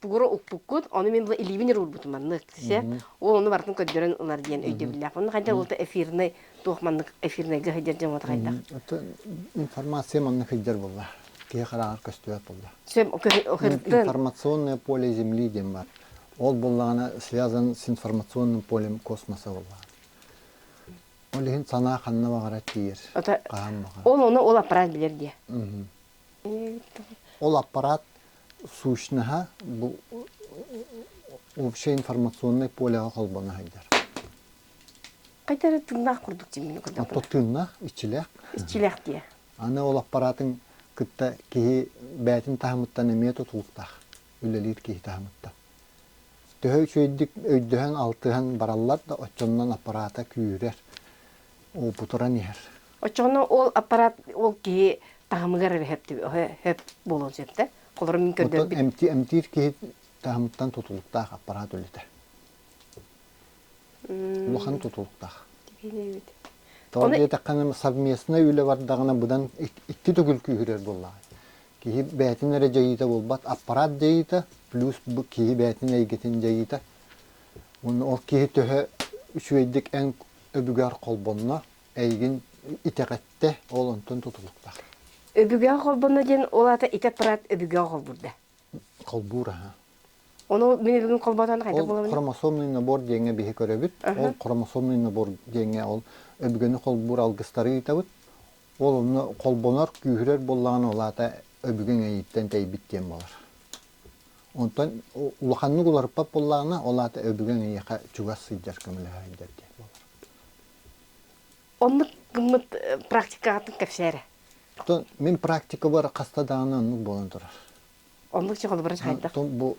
Тугура укпуккут, ону мин була илиибин эрэ уурбутум маннык. Сисе, ол ону барытын көрдөрөн ылар диэн өйдөбүллээх. Онно хайдах ол эфирнай, туох маннык эфирнайга сылдьар дьон уота хайдах? Информация маннык сылдьар буолла. Киһи хараҕар көстүбэт буолла. Информационное поле Земли диэн баар. Ол буоллаҕына связан с информационным полем космоса буоллаҕа. Ол иһин санаа ханна баҕарар тиийэр. Ол ону ол аппарат билэр диэ. Ол аппарат сущноһа бу общее информационное полеҕа холбоно сайдар. Қайтара тыңнаах курдук тиммине курдук. Отто тыынна, иччилэх. Иччилэх диye. Аны ол аппаратын кытта киһи бээтин таһымыттан эмиэ тутулуктаах. Үлэлиир киһи таһымытта. Төһө үчүөйдүк өйдөһөн, алтыһан бараллар да, оччоннон аппарата күүрэр. уупутуран иһэр. Оччоҕуна ол аппарат ол киһи таһымыгар эрэ сөп буолуон сөп да? Холобура мин көрдөрбүт эмтиир киһи таһымыттан тутулуктаах аппарат үлэтэ. Улахан тутулуктаах. Тоҕо диэтэххэ совместнай үлэ бардаҕына быдан икки төгүл күүһүрэр буоллаҕа. Киһи бэйэтин эрэ дьайыыта буолбат, аппарат дьайыыта, плюс киһи бэйэтин эйгэтин дьайыыта. Уонна ол киһи төһө үчүгэйдик эн Өбүгээр холбонно эйигин итэҕэттэ, ол онтон тутулуктаах. Өбүгээр холбонно диэн ол аата итэ Прат өбүгээр холбуурда. Холбуур аһа. Ону мин бүгүн холботон хайда буламын. Хромосомный набор диэҥҥэ биһи көрөбүт. Ол хромосомный набор диэҥҥэ ол өбүгэни холбуур алгыстары ыытабыт. Ол онно холбонор, күүһүрэр буоллаҕына ол аата өбүгэҥ эйиттэн тэйбит диэн буолар. Онтон улаханнык уларыппат буоллаҕына, ол аата өбүгэҥ эйиэхэ чугас сылдьар көмөлөһөөйдөр диэн буолар. Оннук гыммыт э, практикаҕытын кэпсээрэ. Оттон мин практикабар хаста даҕаны оннук буолан турар. Оннук чэ холобура хайдах? Бу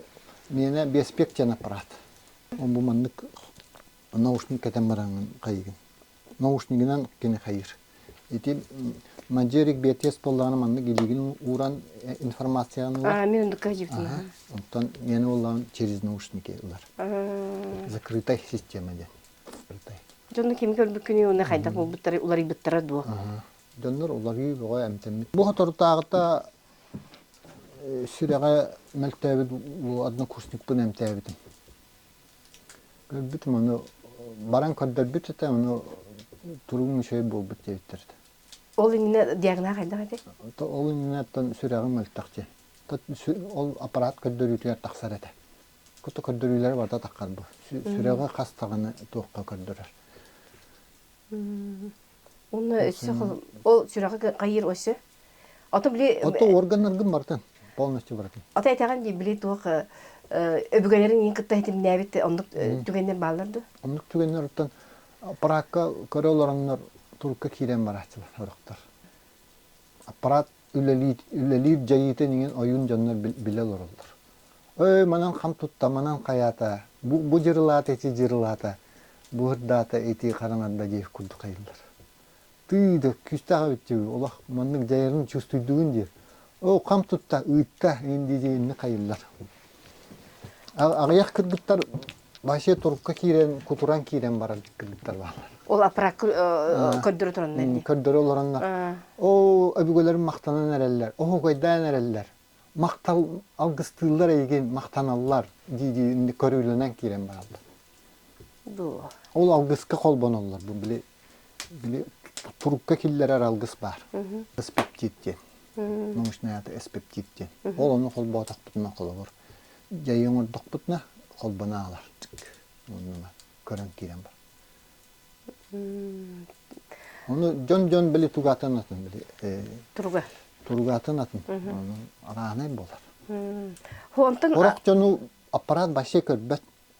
миэнэ биэспиэк диэн аппарат. Бу маннык наушник кэтэн бараҥын хайыгын. наушнигынан кини хайыыр. Ити Маджерик биэтиэс буоллаҕына маннык илиигин ууран э, информацияны ылар. А, мен онду кадюкина. Оттон мен буоллаҕына через наушники ылар. Закрытай система диэн. Закрытай. Дьонно ким көрбүккүнүй оны хайдах булбуттары уларыйбыттара дуо? Дьоннор уларыы бөҕө эмтэммит. Бу соторутааҕыта сүрэҕэ мөлтөөбүт однокурсникпын эмтээбитим. Көрбүтүм ону баран көрдөрбүт этэ, ону туругун үчүгэй буолбут диэбиттэр этэ. Ол иннинэ диагноз хайдах этий? Ол иннинэттэн сүрэҕим мөлтөх дии. Ол аппарат көрдөрүүтүгэр тахсар этэ. Кута көрдөрүүлэрэ барда таххар бу. Сүрэҕи хас даҕаны туохха көрдөрөр. Уна өссө ол сүрэҕэ хайыр өссө. Ото били Ото органнаргын барытын полностью барытын. Ото этеҕин дии били туох өбүгэлэрин иин кытта этимнээбит оннук түгэннэр бааллар да. Оннук түгэннэриттэн аппараатка көрө олороннор турукка киирэн барааччылар сорохтор. Аппарат үлэлиир, үлэлиир дьайыытын иҥин ойуун дьоннор билэ олороллор. Ой, манан хам тутта, манан хайаата, бу, бу дьырылаата ити дьырылаата, бу ырдаата ити хараҥарда диэх курдук айыллар. Тыы да күүстээх эбитчи олох маннык дьайарын чувствуйдугун диир. Оо, хам тутта, ыытта, ин дии инник айыллар. Аҕыйах кыргыттар Вообще турукка киирэн, кутуран киирэн баран кыргыттар бааллар. Ол аппарат көрдөрө тураннар Көрдөрө олороннор. Оо, өбүгэлэрим махтанан эрэллэр, оһугайдаан эрэллэр. Махтал алгыстыыллар эйигин, махтаналлар дии-дии көрүүлэнэн киирэн бараллар. Ол алгыска холбоноллор бу били били турукка киллэрэр алгыс баар. Эспептит диэн. Научноята эспептит диэн. Ол ону холбоотохпутуна холобур дьайы оҥордохпутуна холбоно аалар. Оннуна көрөн киирэн бар. Оны дьон дьон били тугаатын атын били туруга туругаатын атын оның арааһынай болар. Онтон хорох дьону аппарат вообще көрбөт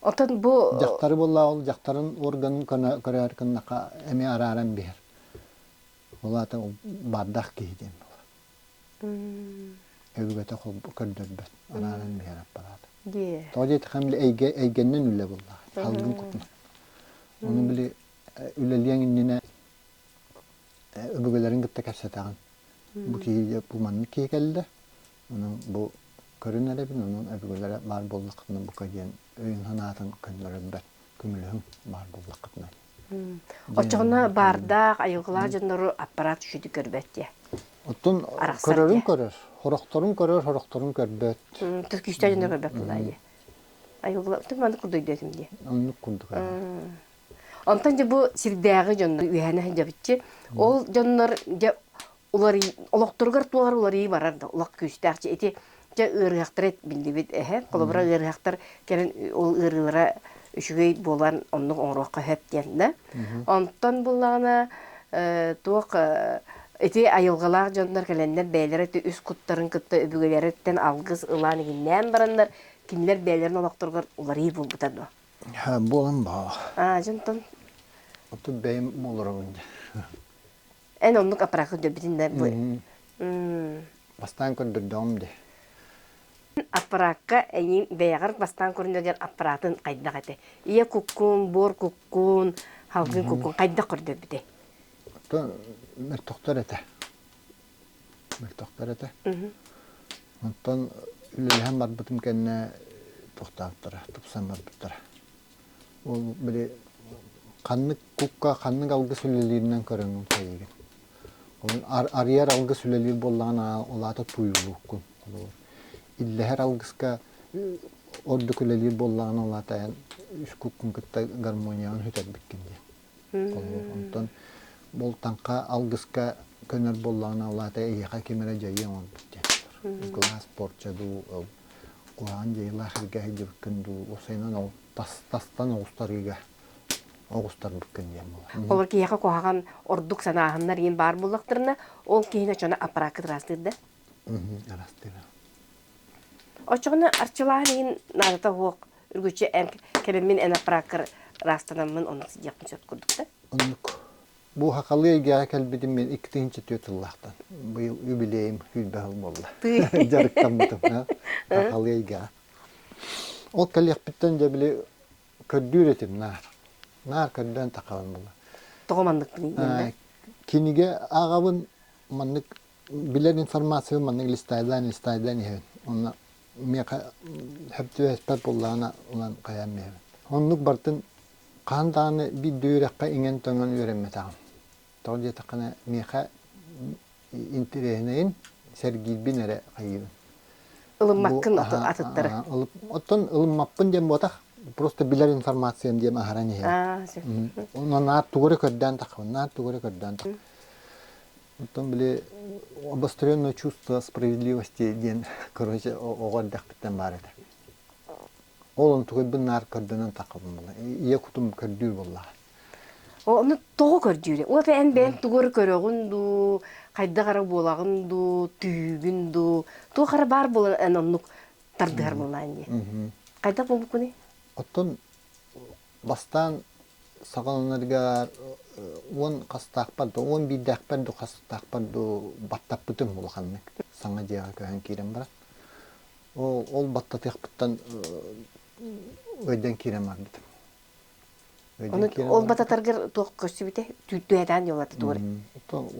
Отон бу дьахтары буллаҕыл дьахтарын органын көне көрөөр кыннака эми арааран биһэр. Ол аата бардах киһи диэн була. Өбүгөтө көрдөрбөт арааран биһэр аппарат. Тоҕо диэти хам эйгэ эйгеннен үлэ булла. Халгын купма. Оны били үлэлиэн иннинэ өбүгэлерин кытта кэпсэтаҕын. Бу киһи бу маннык киһи кэллэ. Онон бу көрүн эрэбин, онон өбүгэлэрэ баар буоллаххытына бука диэн өйүн-санаатын көннөрөрбөр көмөлөһүҥ баар буоллаххытына. Оччоҕуна баардаах айылҕалаах дьоннору аппарат үчүгэй көрбөт диэ. Оттон көрөрүн көрөр, сорохторун көрөр, сорохторун көрбөт. Түркүүстэр дьонно көрбөт тулаайы. Айылҕа ты маннык курдук дөтүм дии. Оннук курдук. Онтон дьэ бу сирдээҕи дьоннор үһэнэ сылдьабыччы. Ол дьоннор дьэ уларый олохторугар туолар уларыйыы барар да олох күүстээх дьэ ити дьэ ыарыһахтары биллибит эһэ холобура ыарыһахтар кэлин ол ыарыылара үчүгэй буолан оннук оҥоруохха сөп диэн да онтон буллаҕына э, туох э, ити айылҕалаах дьоннор кэлэннэр бэйэлэрэ ити үс куттарын кытта өбүгэлэриттэн алгыс ылаан игиннээн бараннар кинилэр бэйэлэрин олохторугар уларыйыы буолбута дуо Ha, буолан баҕа. Аа, дьонтон Оттон бэйэм олоробун дии. Эн оннук аппарат көрдөрбүтүн да бу. Бастаан көрдөрдөҕүм дии. Аппараакка эйиҥ бэйэҕэр бастаан көрүнө диэн аппаратын хайдах этэ? Ийэ куккун, буор куккун, халгын куккун хайдах көрдөрбүтэй? Оттон мөлтөхтөр этэ. Мөлтөхтөр этэ. Оттон үлэлэһэн барбытым кэннэ тохтоотторо, тупсан барбыттара. Ол били ханнык кукка ханнык алгыс үлэлииринэн көрөҥҥүн кэйигин. Онон арыйар алгыс үлэлиир буоллаҕына улаата тууйулууккун. Иллэһэр алгыска ордук үлэлиир буоллаҕына улаата эн үс куккун кытта гармониябын сүтэрбиккин диэн. Холобур, онтон бултаҥха алгыска көнөр буоллаҕына, ол аата эһиэхэ ким эрэ дьайыы оҥорбут диэн болор. Глаз, порча дуу, куһаҕан дьайыылаах эргэ сылдьыбыккын дуу, ол сайынан тастан оҕустарыыга оҕустарбыккын диэн буолар. Олор киһиэхэ куһаҕан ордук санааһыннар иин баар буоллахтарына, ол киһини оччоно аппарааккыт ыраастыыр да? Оччоҕуна арчылаан иһин наадата суох үргүччү эн кэбиммин эн аппарааккар ыраастанаммын оннук сыдьыахпын сөп курдук да? Оннук. Бу Сахалыы эйгэҕэ кэлбитим мин икки тыһыынча түөрт сыллаахтан. Быйыл юбилейым сүүрбэ сыл буолла. Дьарыктаммытым. Сахалыы эйгэҕэ. Ол кэлиэхпиттэн дьэ били көрдүүр этим наар. Наар көрдөөн тахабын була. Тоҕо маннык гыныйда? Кинигэ ааҕабын маннык билэр информациябын маннык листайдан листайдан иһэбин уонна миэхэ сөптүбэспэт буоллаҕына ылан хайаан биэрэбин оннук бартын хаһан даҕаны биирдэ үөрэххэ иҥэн-төҥөн үөрэммэтэҕим тоҕо диэтэххинэ миэхэ интэриэһинэйин сэргиирбин эрэ хайыыбын ылыммаккын атыттары оттон ылыммаппын диэн буотах просто билэр информациям диэн аһаран иһэбин онон наар тугу эрэ көрдөөн таххабын наар тугу эрэ көрдөөн таххабын Оттон били обостренное чувство справедливости диэн, короче, оҕо эрдэхпиттэн баар этэ. Ол онтугайбын наар көрдөнөн таххабын. Ийэ кутум көрдүүр буоллаҕа. Ону тоҕо көрдүүрү? Уот эн бэйэҥ тугур көрөҕүн дуу, хайдах эрэ буолаҕын дуу, түһүүгүн дуу, туох эрэ баар буолан эн оннук тардыһар буоллаҕын дии. Хайдах буолбуккуний? Оттон бастаан саҕаланарыгар уон хастаахпар да уон биирдээхпэр да хастаахпар да баттаппытым улаханнык саҥа дьиэҕэ көһөн киирэн баран ол баттатыахпыттан өйдөөн киирэн барбытым ол баттатаргар туох көрсүбүтэ түүрдүһэтээн дьолатытуор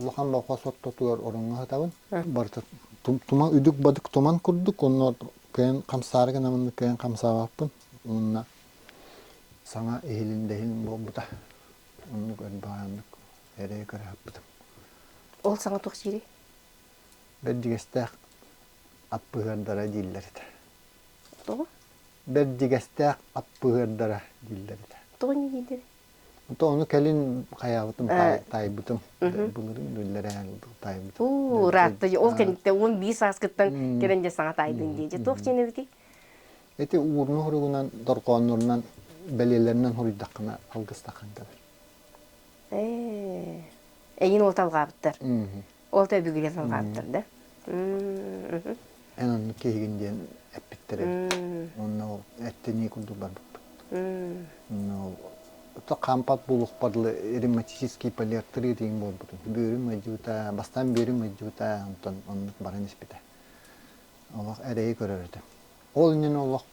улахан болхос оттотугар ороҥҥо сытабын барыта туман үдүк бадык туман курдук онно кыйан хамсаары гына маннык кыйан хамсаабаппын уонна саҥа иһилиндэһин буолбута оннук эн баҕараннык эрэйи көрө саппытым ол саҥа туох сиэрий бэрдьигэстээх аппыһыардара дииллэр этэ тоҕо бэрдьигэстээх аппыһыардара дииллэр этэ тоҕо не дииллэрий то ону кэлин хайаабытым таайбытым былырын биллэрэн таайбытым уу ыраатта ол кэнниттэн он биир сааскыттан кэлэн дьэ саҥа таайдын дии дьэ туох диэн эбитий Ити уурунуу хоругунан, дорҕооннорунан, бэлиэлэринэн хоруйдаххына алгыстахан кэлэр. Ээ, эйин уот алҕаабыттар. Уот өбүгүлэн алҕаабыттар да? Эн оннук киһигин диэн эппиттэр эбит. Онно ол эттэнии курдук барбыппыт. Онно ол хампат булухпар лы ревматический полиартрит диэн буолбутун. Бөөрүм ыйдьыбыта, бастаан бөөрүм ыйдьыбыта, онтон оннук баран испитэ. олох эрэйи көрөр этим. Ол иннинэ олох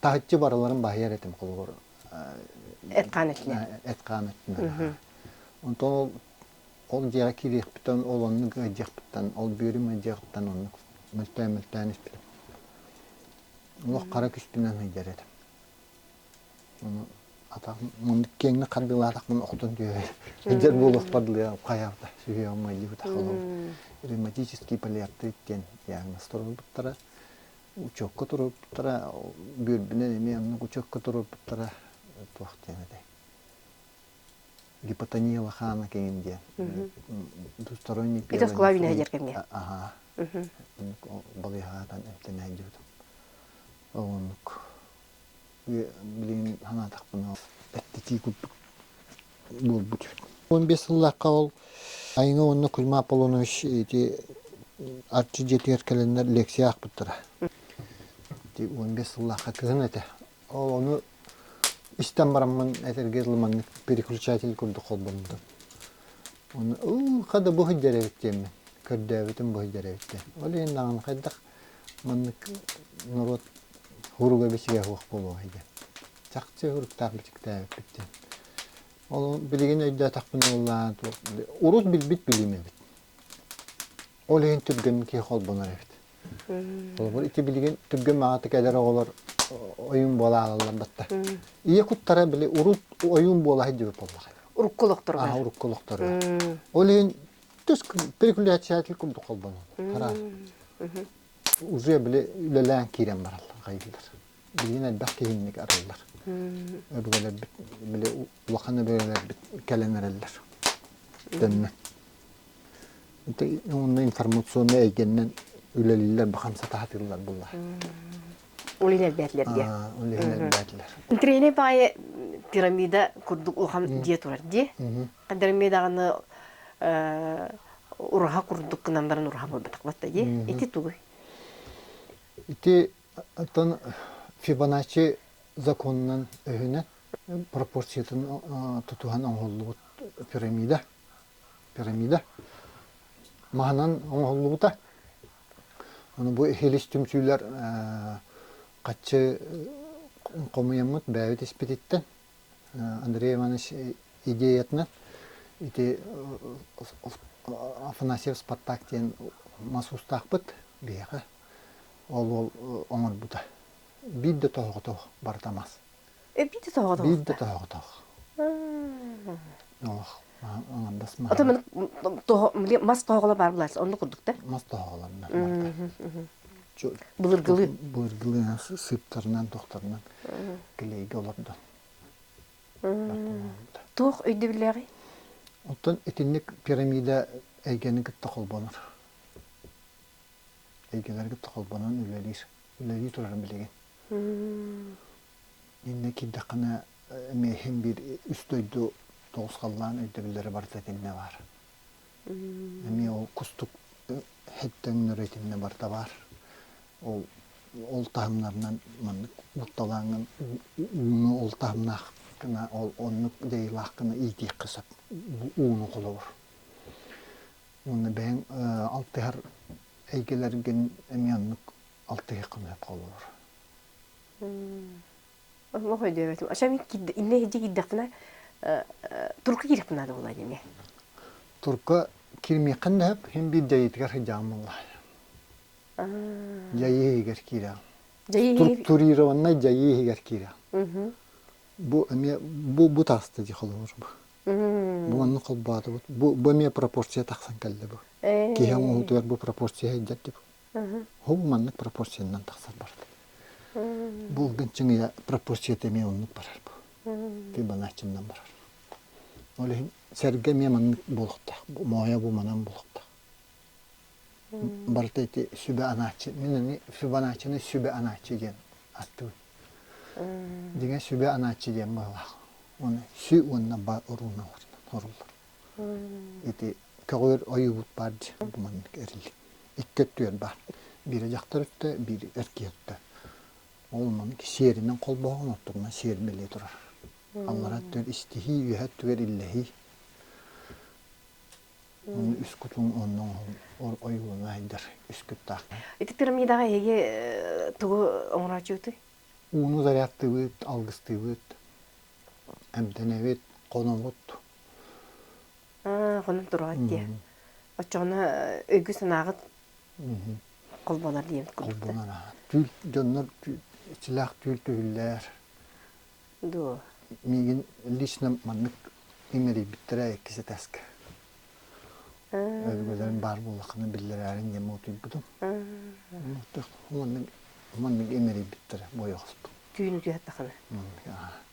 таһыччы барыларын баһыйар этим холобур. Эт-хаан өттүнэн. Эт-хаан өттүнэн. Онтон ол ол дьиэҕэ киириэхпитин, ол оннук ыйдыахпыттан, ол бүөрүм ыйдыахпыттан оннук мөлтөөн мөлтөөн испитим. Олох хара күстүнэн ыйдар этим. атах киэҥник харбыылаатахпын охтон түһэр сылдьар буолуохпар дылы хайаата сүһүөҕүм майдыбыта халым ревматический полиартрит диэн диагностар ылбыттара учекка туруорбуттара бүөрбүнэн эмиэ онно учекка туруорбуттара туох диэн этэй гипотония лохана киҥин диэн двусторонний это склавина дьэр кэмгэ аха балыйагаатан эмтэнээдибитим оннук Билигин санаатахпына эттитии курдук буолбут. Он бес сыллаахха ол Айна уонна Кузьма Аполлонович ити арчы дьиэтигэр кэлэннэр лекция аахпыттара. Ити он бес сыллаахха кыһын этэ. Ол ону истэн бараммын этэргэ ылыманнык переключатель курдук холбоммутум. Оны ылха да бу сылдьар эбит диэммин көрдөөбүтүм бу сылдьар эбиттэн. Ол иһин даҕаны хайдах Маннык норуот уруга-бичигэ суох буолуоҕай диэн. Чахчы уруктаах бичиктээбиппит диэн. Ол билигин өйдөөтөхпүнэ буоллаан, урут билбит билиим эбит. Ол иһин түргэн киһи холбонор эбит. Холобур, ити билигин түргэн маҕатык эдэр оҕолор ойуун буола аалаллар батта. Ийэ куттара били урут ойуун буола сылдьыбыт буоллаҕа. Урукку олохторугар. А, урукку олохторугар. Ол иһин тус перекуляциятел курдук холбонон тараар уже били үлэлээн киирэн бараллар хайдылар билигин элбэх киһинник арыллар өбүгэлэрбит били улахан өбүгэлэрбит кэлэн эрэллэр төннөн онно информационнай эйгэннэн үлэлииллэр бахан сатаатыыллар буллар Олинер бәтлерге. Олинер бәтлер. Тренер бае пирамида курдук улхам дие турар ди. Кадырми даҕаны ураха курдук кынан баран ураха буолбатах батта ди. Ити тугуй? Ити оттон Фибоначчи законунан өһүнэн пропорциятын тутуһан оҥоһуллубут пирамида пирамида маһынан оҥоһуллубута. Ону бу хилис түмсүүлэр хаччы хомуйаммыт бэйэбит испититтэн Андрей Иванович идеятынан ити Афанасьев Спартак диэн мас уустаахпыт биһиэхэ ол уол оҥорбута биир да тоһоҕотоох барыта мас биир да тоһоҕотоох биир да тоһоҕотоох мас тоһоголо бар булас онну курдук да мас тоһоголор былыргылы былыргылы сыптарынан тохтарынан килейге олордо туох өйдөбүллээҕи оттон итинник пирамида эйгени кытта холбонор эйгэлэр кытта холбонон үлэлиир үлэлии турарын билигин иннэ киирдэххинэ эмиэһин биир үс дойду тоҕус халлаан өйдөбүллэрэ барыта итиннэ баар. Эмиэ ол кустук өҥнөрө итиннэ барыта баар. Ол ол таһымнарынан маннык уотталааҥҥын ууну ол таһымнааххына ол оннук дьайыылааххына иитиэххэ сөп ууну холобур. Уонна бэйэҥ алтыһар эйгэлэргин эмиэ оннук алтыһыаххын сөп холобур. Олох өйдөөбөтүм. Ача мин кирде, инне хиджи кирдехтена турка киреппин ада була диме. Турка кирмиэххин дэһеп, хин биир дьайыытыгар хиджаан булла. Дьайыы иһигэр киирэ. Турированнай дьайыы иһигэр киирэ. Бу эмиэ бу бу тааста ди холобур бу. Бу онну холбоотубут. Бу бу эмиэ пропорция тахсан кэллэ бу. Киһи оҥоһуутугар бу пропорция сыйдьар ди бу. Ол маннык пропорциянан тахсар барбыт. Булгун чыңыйа пропорцията эмиэ оннук барар бу. Фибоначчыннан барар. Ол иһин сэргэ эмиэ маннык буолуохтаах. Моойо бу манан буолуохтаах. Барыта ити сүбэ анааччы. Мин аны Фибоначчыны сүбэ анааччы диэн аттыбын. Дьиҥэ сүбэ анааччы диэн быһылаах. Ону сү уонна ба оруунна оруллар. Ити көҕүөр ойуубут баар дии, маннык эрилли. Икки өттүгэр баар. Биир дьахтар өттө, биир эркий өттө. Ол маннык сиэринэн холбоһон оттуруна сиэр бэлиэ турар. Аллара өттүгэр истиһии, үөһэ өттүгэр иллэһии. Ону үс кутун онно оҥоһул ойуулана айдар үскүттаахха. Ити пирамидаҕа эһиги тугу оҥорооччутуй? Ууну зарядтыыбыт, алгыстыыбыт, эмтэнэбит, хонобут, хонон турҕат дии оччоҕуна өйгү-санааҕыт холбонор диэн холбонор түүл дьоннор иччилээх түүл түһүллэр дуо миигин лично маннык иҥэрийбиттэрэ иккис этээскэ өбүгэлэрим баар буоллаххына биллэрээрин диэн муутуйбутум маннык маннык иҥэрийбиттэрэ буойа хостум түүн үтү аттахына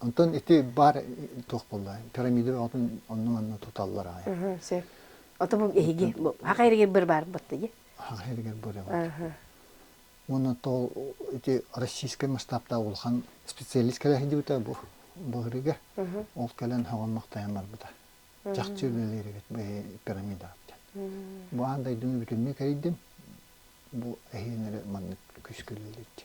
Онтон ити баар туох буолла? Пирамида оҕотун онно-манна туталлар аайы. Сөп. Ото бу эһиги хаха эригэр быр барбыт дии. Хаха эригэр бырыбыт. Уонна то эти российскай масштабтаах улахан специалист кэлэһин диюта бу быһырыга ол кэлэн хогон мактайан барбыта. Чахчы үлэлеригит пирамида Бу ан дайдыны бүтүннү кэридим. Бу эһиэнери маннык күскүлүлүт.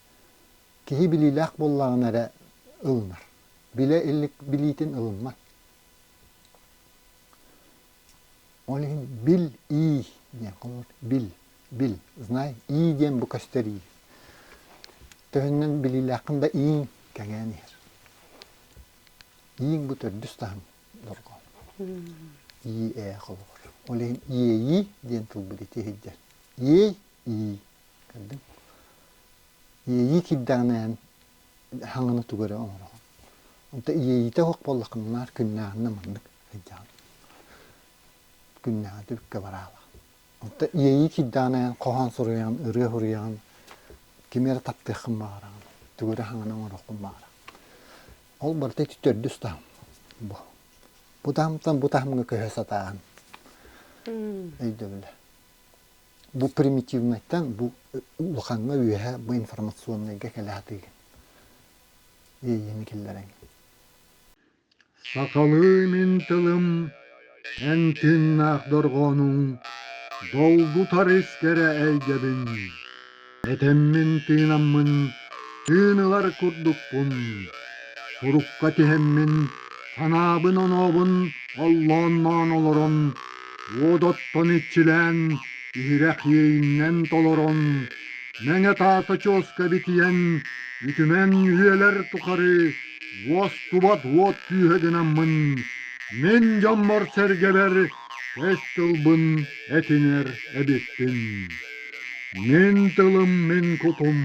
Киһи билиилээх буоллаҕына эрэ ылынар. Билэ илик билиитин ылыммат. Ол иһин бил ий диэн холобур. Бил, бил, знай, ий диэн бу көстөрүү. Төһөннөн билиилээххин да ииҥ кэҥээн иһэр. Ииҥ бу төрдүс таһым долго. Ии ээ холобур. Ол иһин иэйии диэн тылбыт ити иһирдьэ. Иэй, ии. көрдүҥ иэйии киирдэҕинэ эн хаҥаны тугу эрэ оҥороҕун онто иэйиитэ оһох буоллаххына наар күннээҕинэ маннык сылдьаҕын күннээҕи түбүккэ бараалаах онто иэйии киирдэҕинэ эн хоһоон суруйаҕын ырыа суруйаҕын кими эрэ таптыаххын баҕараҕын тугу эрэ хаҥаны оҥоруоххун баҕараҕын ол барыта ити төрдүс таһым бу бу таһымтан бу таһымҥа көһө сатааһын өйдөбүлэ Бу примитивнайтан бу улахаҥҥа үөһэ бу информационнайга кэлэ сатыыгын. Иэйиини киллэрэҥ. Сахалыы мин тылым эн тыыннаах дорҕоонуҥ долгутар искэрэ эйгэбин Этэммин тыынаммын тыын ылар курдукпун, сурукка тиһэммин санаабын-онообун оллоонноон олорон, уот оттон иччилээн, иһирэх иэйиннэн толорон, мэҥэ таас очуоска битийэн, үтүмэн үһүөлэр тухары уостубат уот түөһэ гынаммын, мин дьоммор-сэргэбэр тэс тылбын этинэр эбиппин. Мин тылым мин кутум,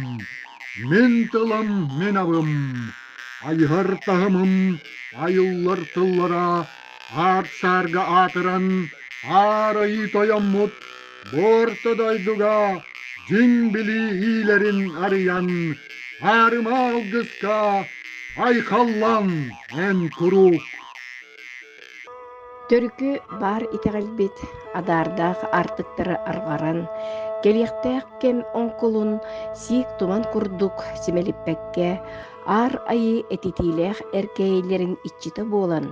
мин тылым мин абым, айыһар таһымым айыллар тыллара аар-саарга аатыран аарайыы тойоммут Буорта дойдуга дьиҥ билии иилэрин арыйан аарыма алгыска айхаллан эн куруук Төрүкү баар итэҕэлбит адаардаах аартыктары арҕаран, кэлиэхтээх кэм оҥкулун сиик туман курдук симэлиппэккэ, Аар Айыы этитиилээх эркээйилэрин иччитэ буолан,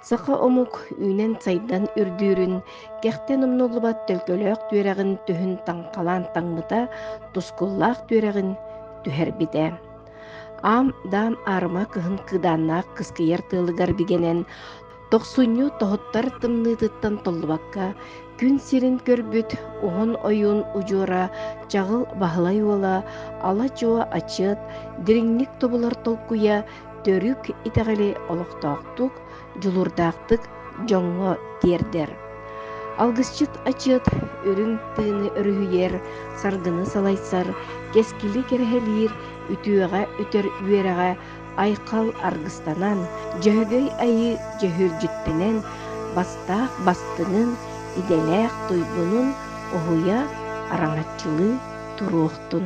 саха омук үүнэн-сайдан үрдүүрүн, кэхтэн умнуллубат төлкөлөөх түөрэҕин түһүн таҥхалаан таҥмыта, тускуллаах түөрэҕин түһэрбитэ. Аам-даам аарыма кыһын кыыдааннаах кыскыйар тыалыгар бигэнэн, тохсунньу тоһуттар тымныытыттан толлубакка, күн сирин көрбүт уһун ойуун удьуора чаҕыл Баһылай уола ала-дьуо ачыат, дириҥник тобулар толкуйа төрүк итэҕэли олохтоохтук, дьулуурдаахтык дьоҥҥо тиэрдэр. Алгысчыт ачыат үрүҥ тыыны өрүһүйэр, саргыны салайсар, кэскили кэрэһэлиир, үтүөҕэ үтэр үөрэҕэ айхал аргыстанан, Дьөһөгөй айыы дьөһүрдьүттэнэн, бастаах бастыҥын, идэлээх туйгунун уһуйа, араҥаччылыы туруохтун!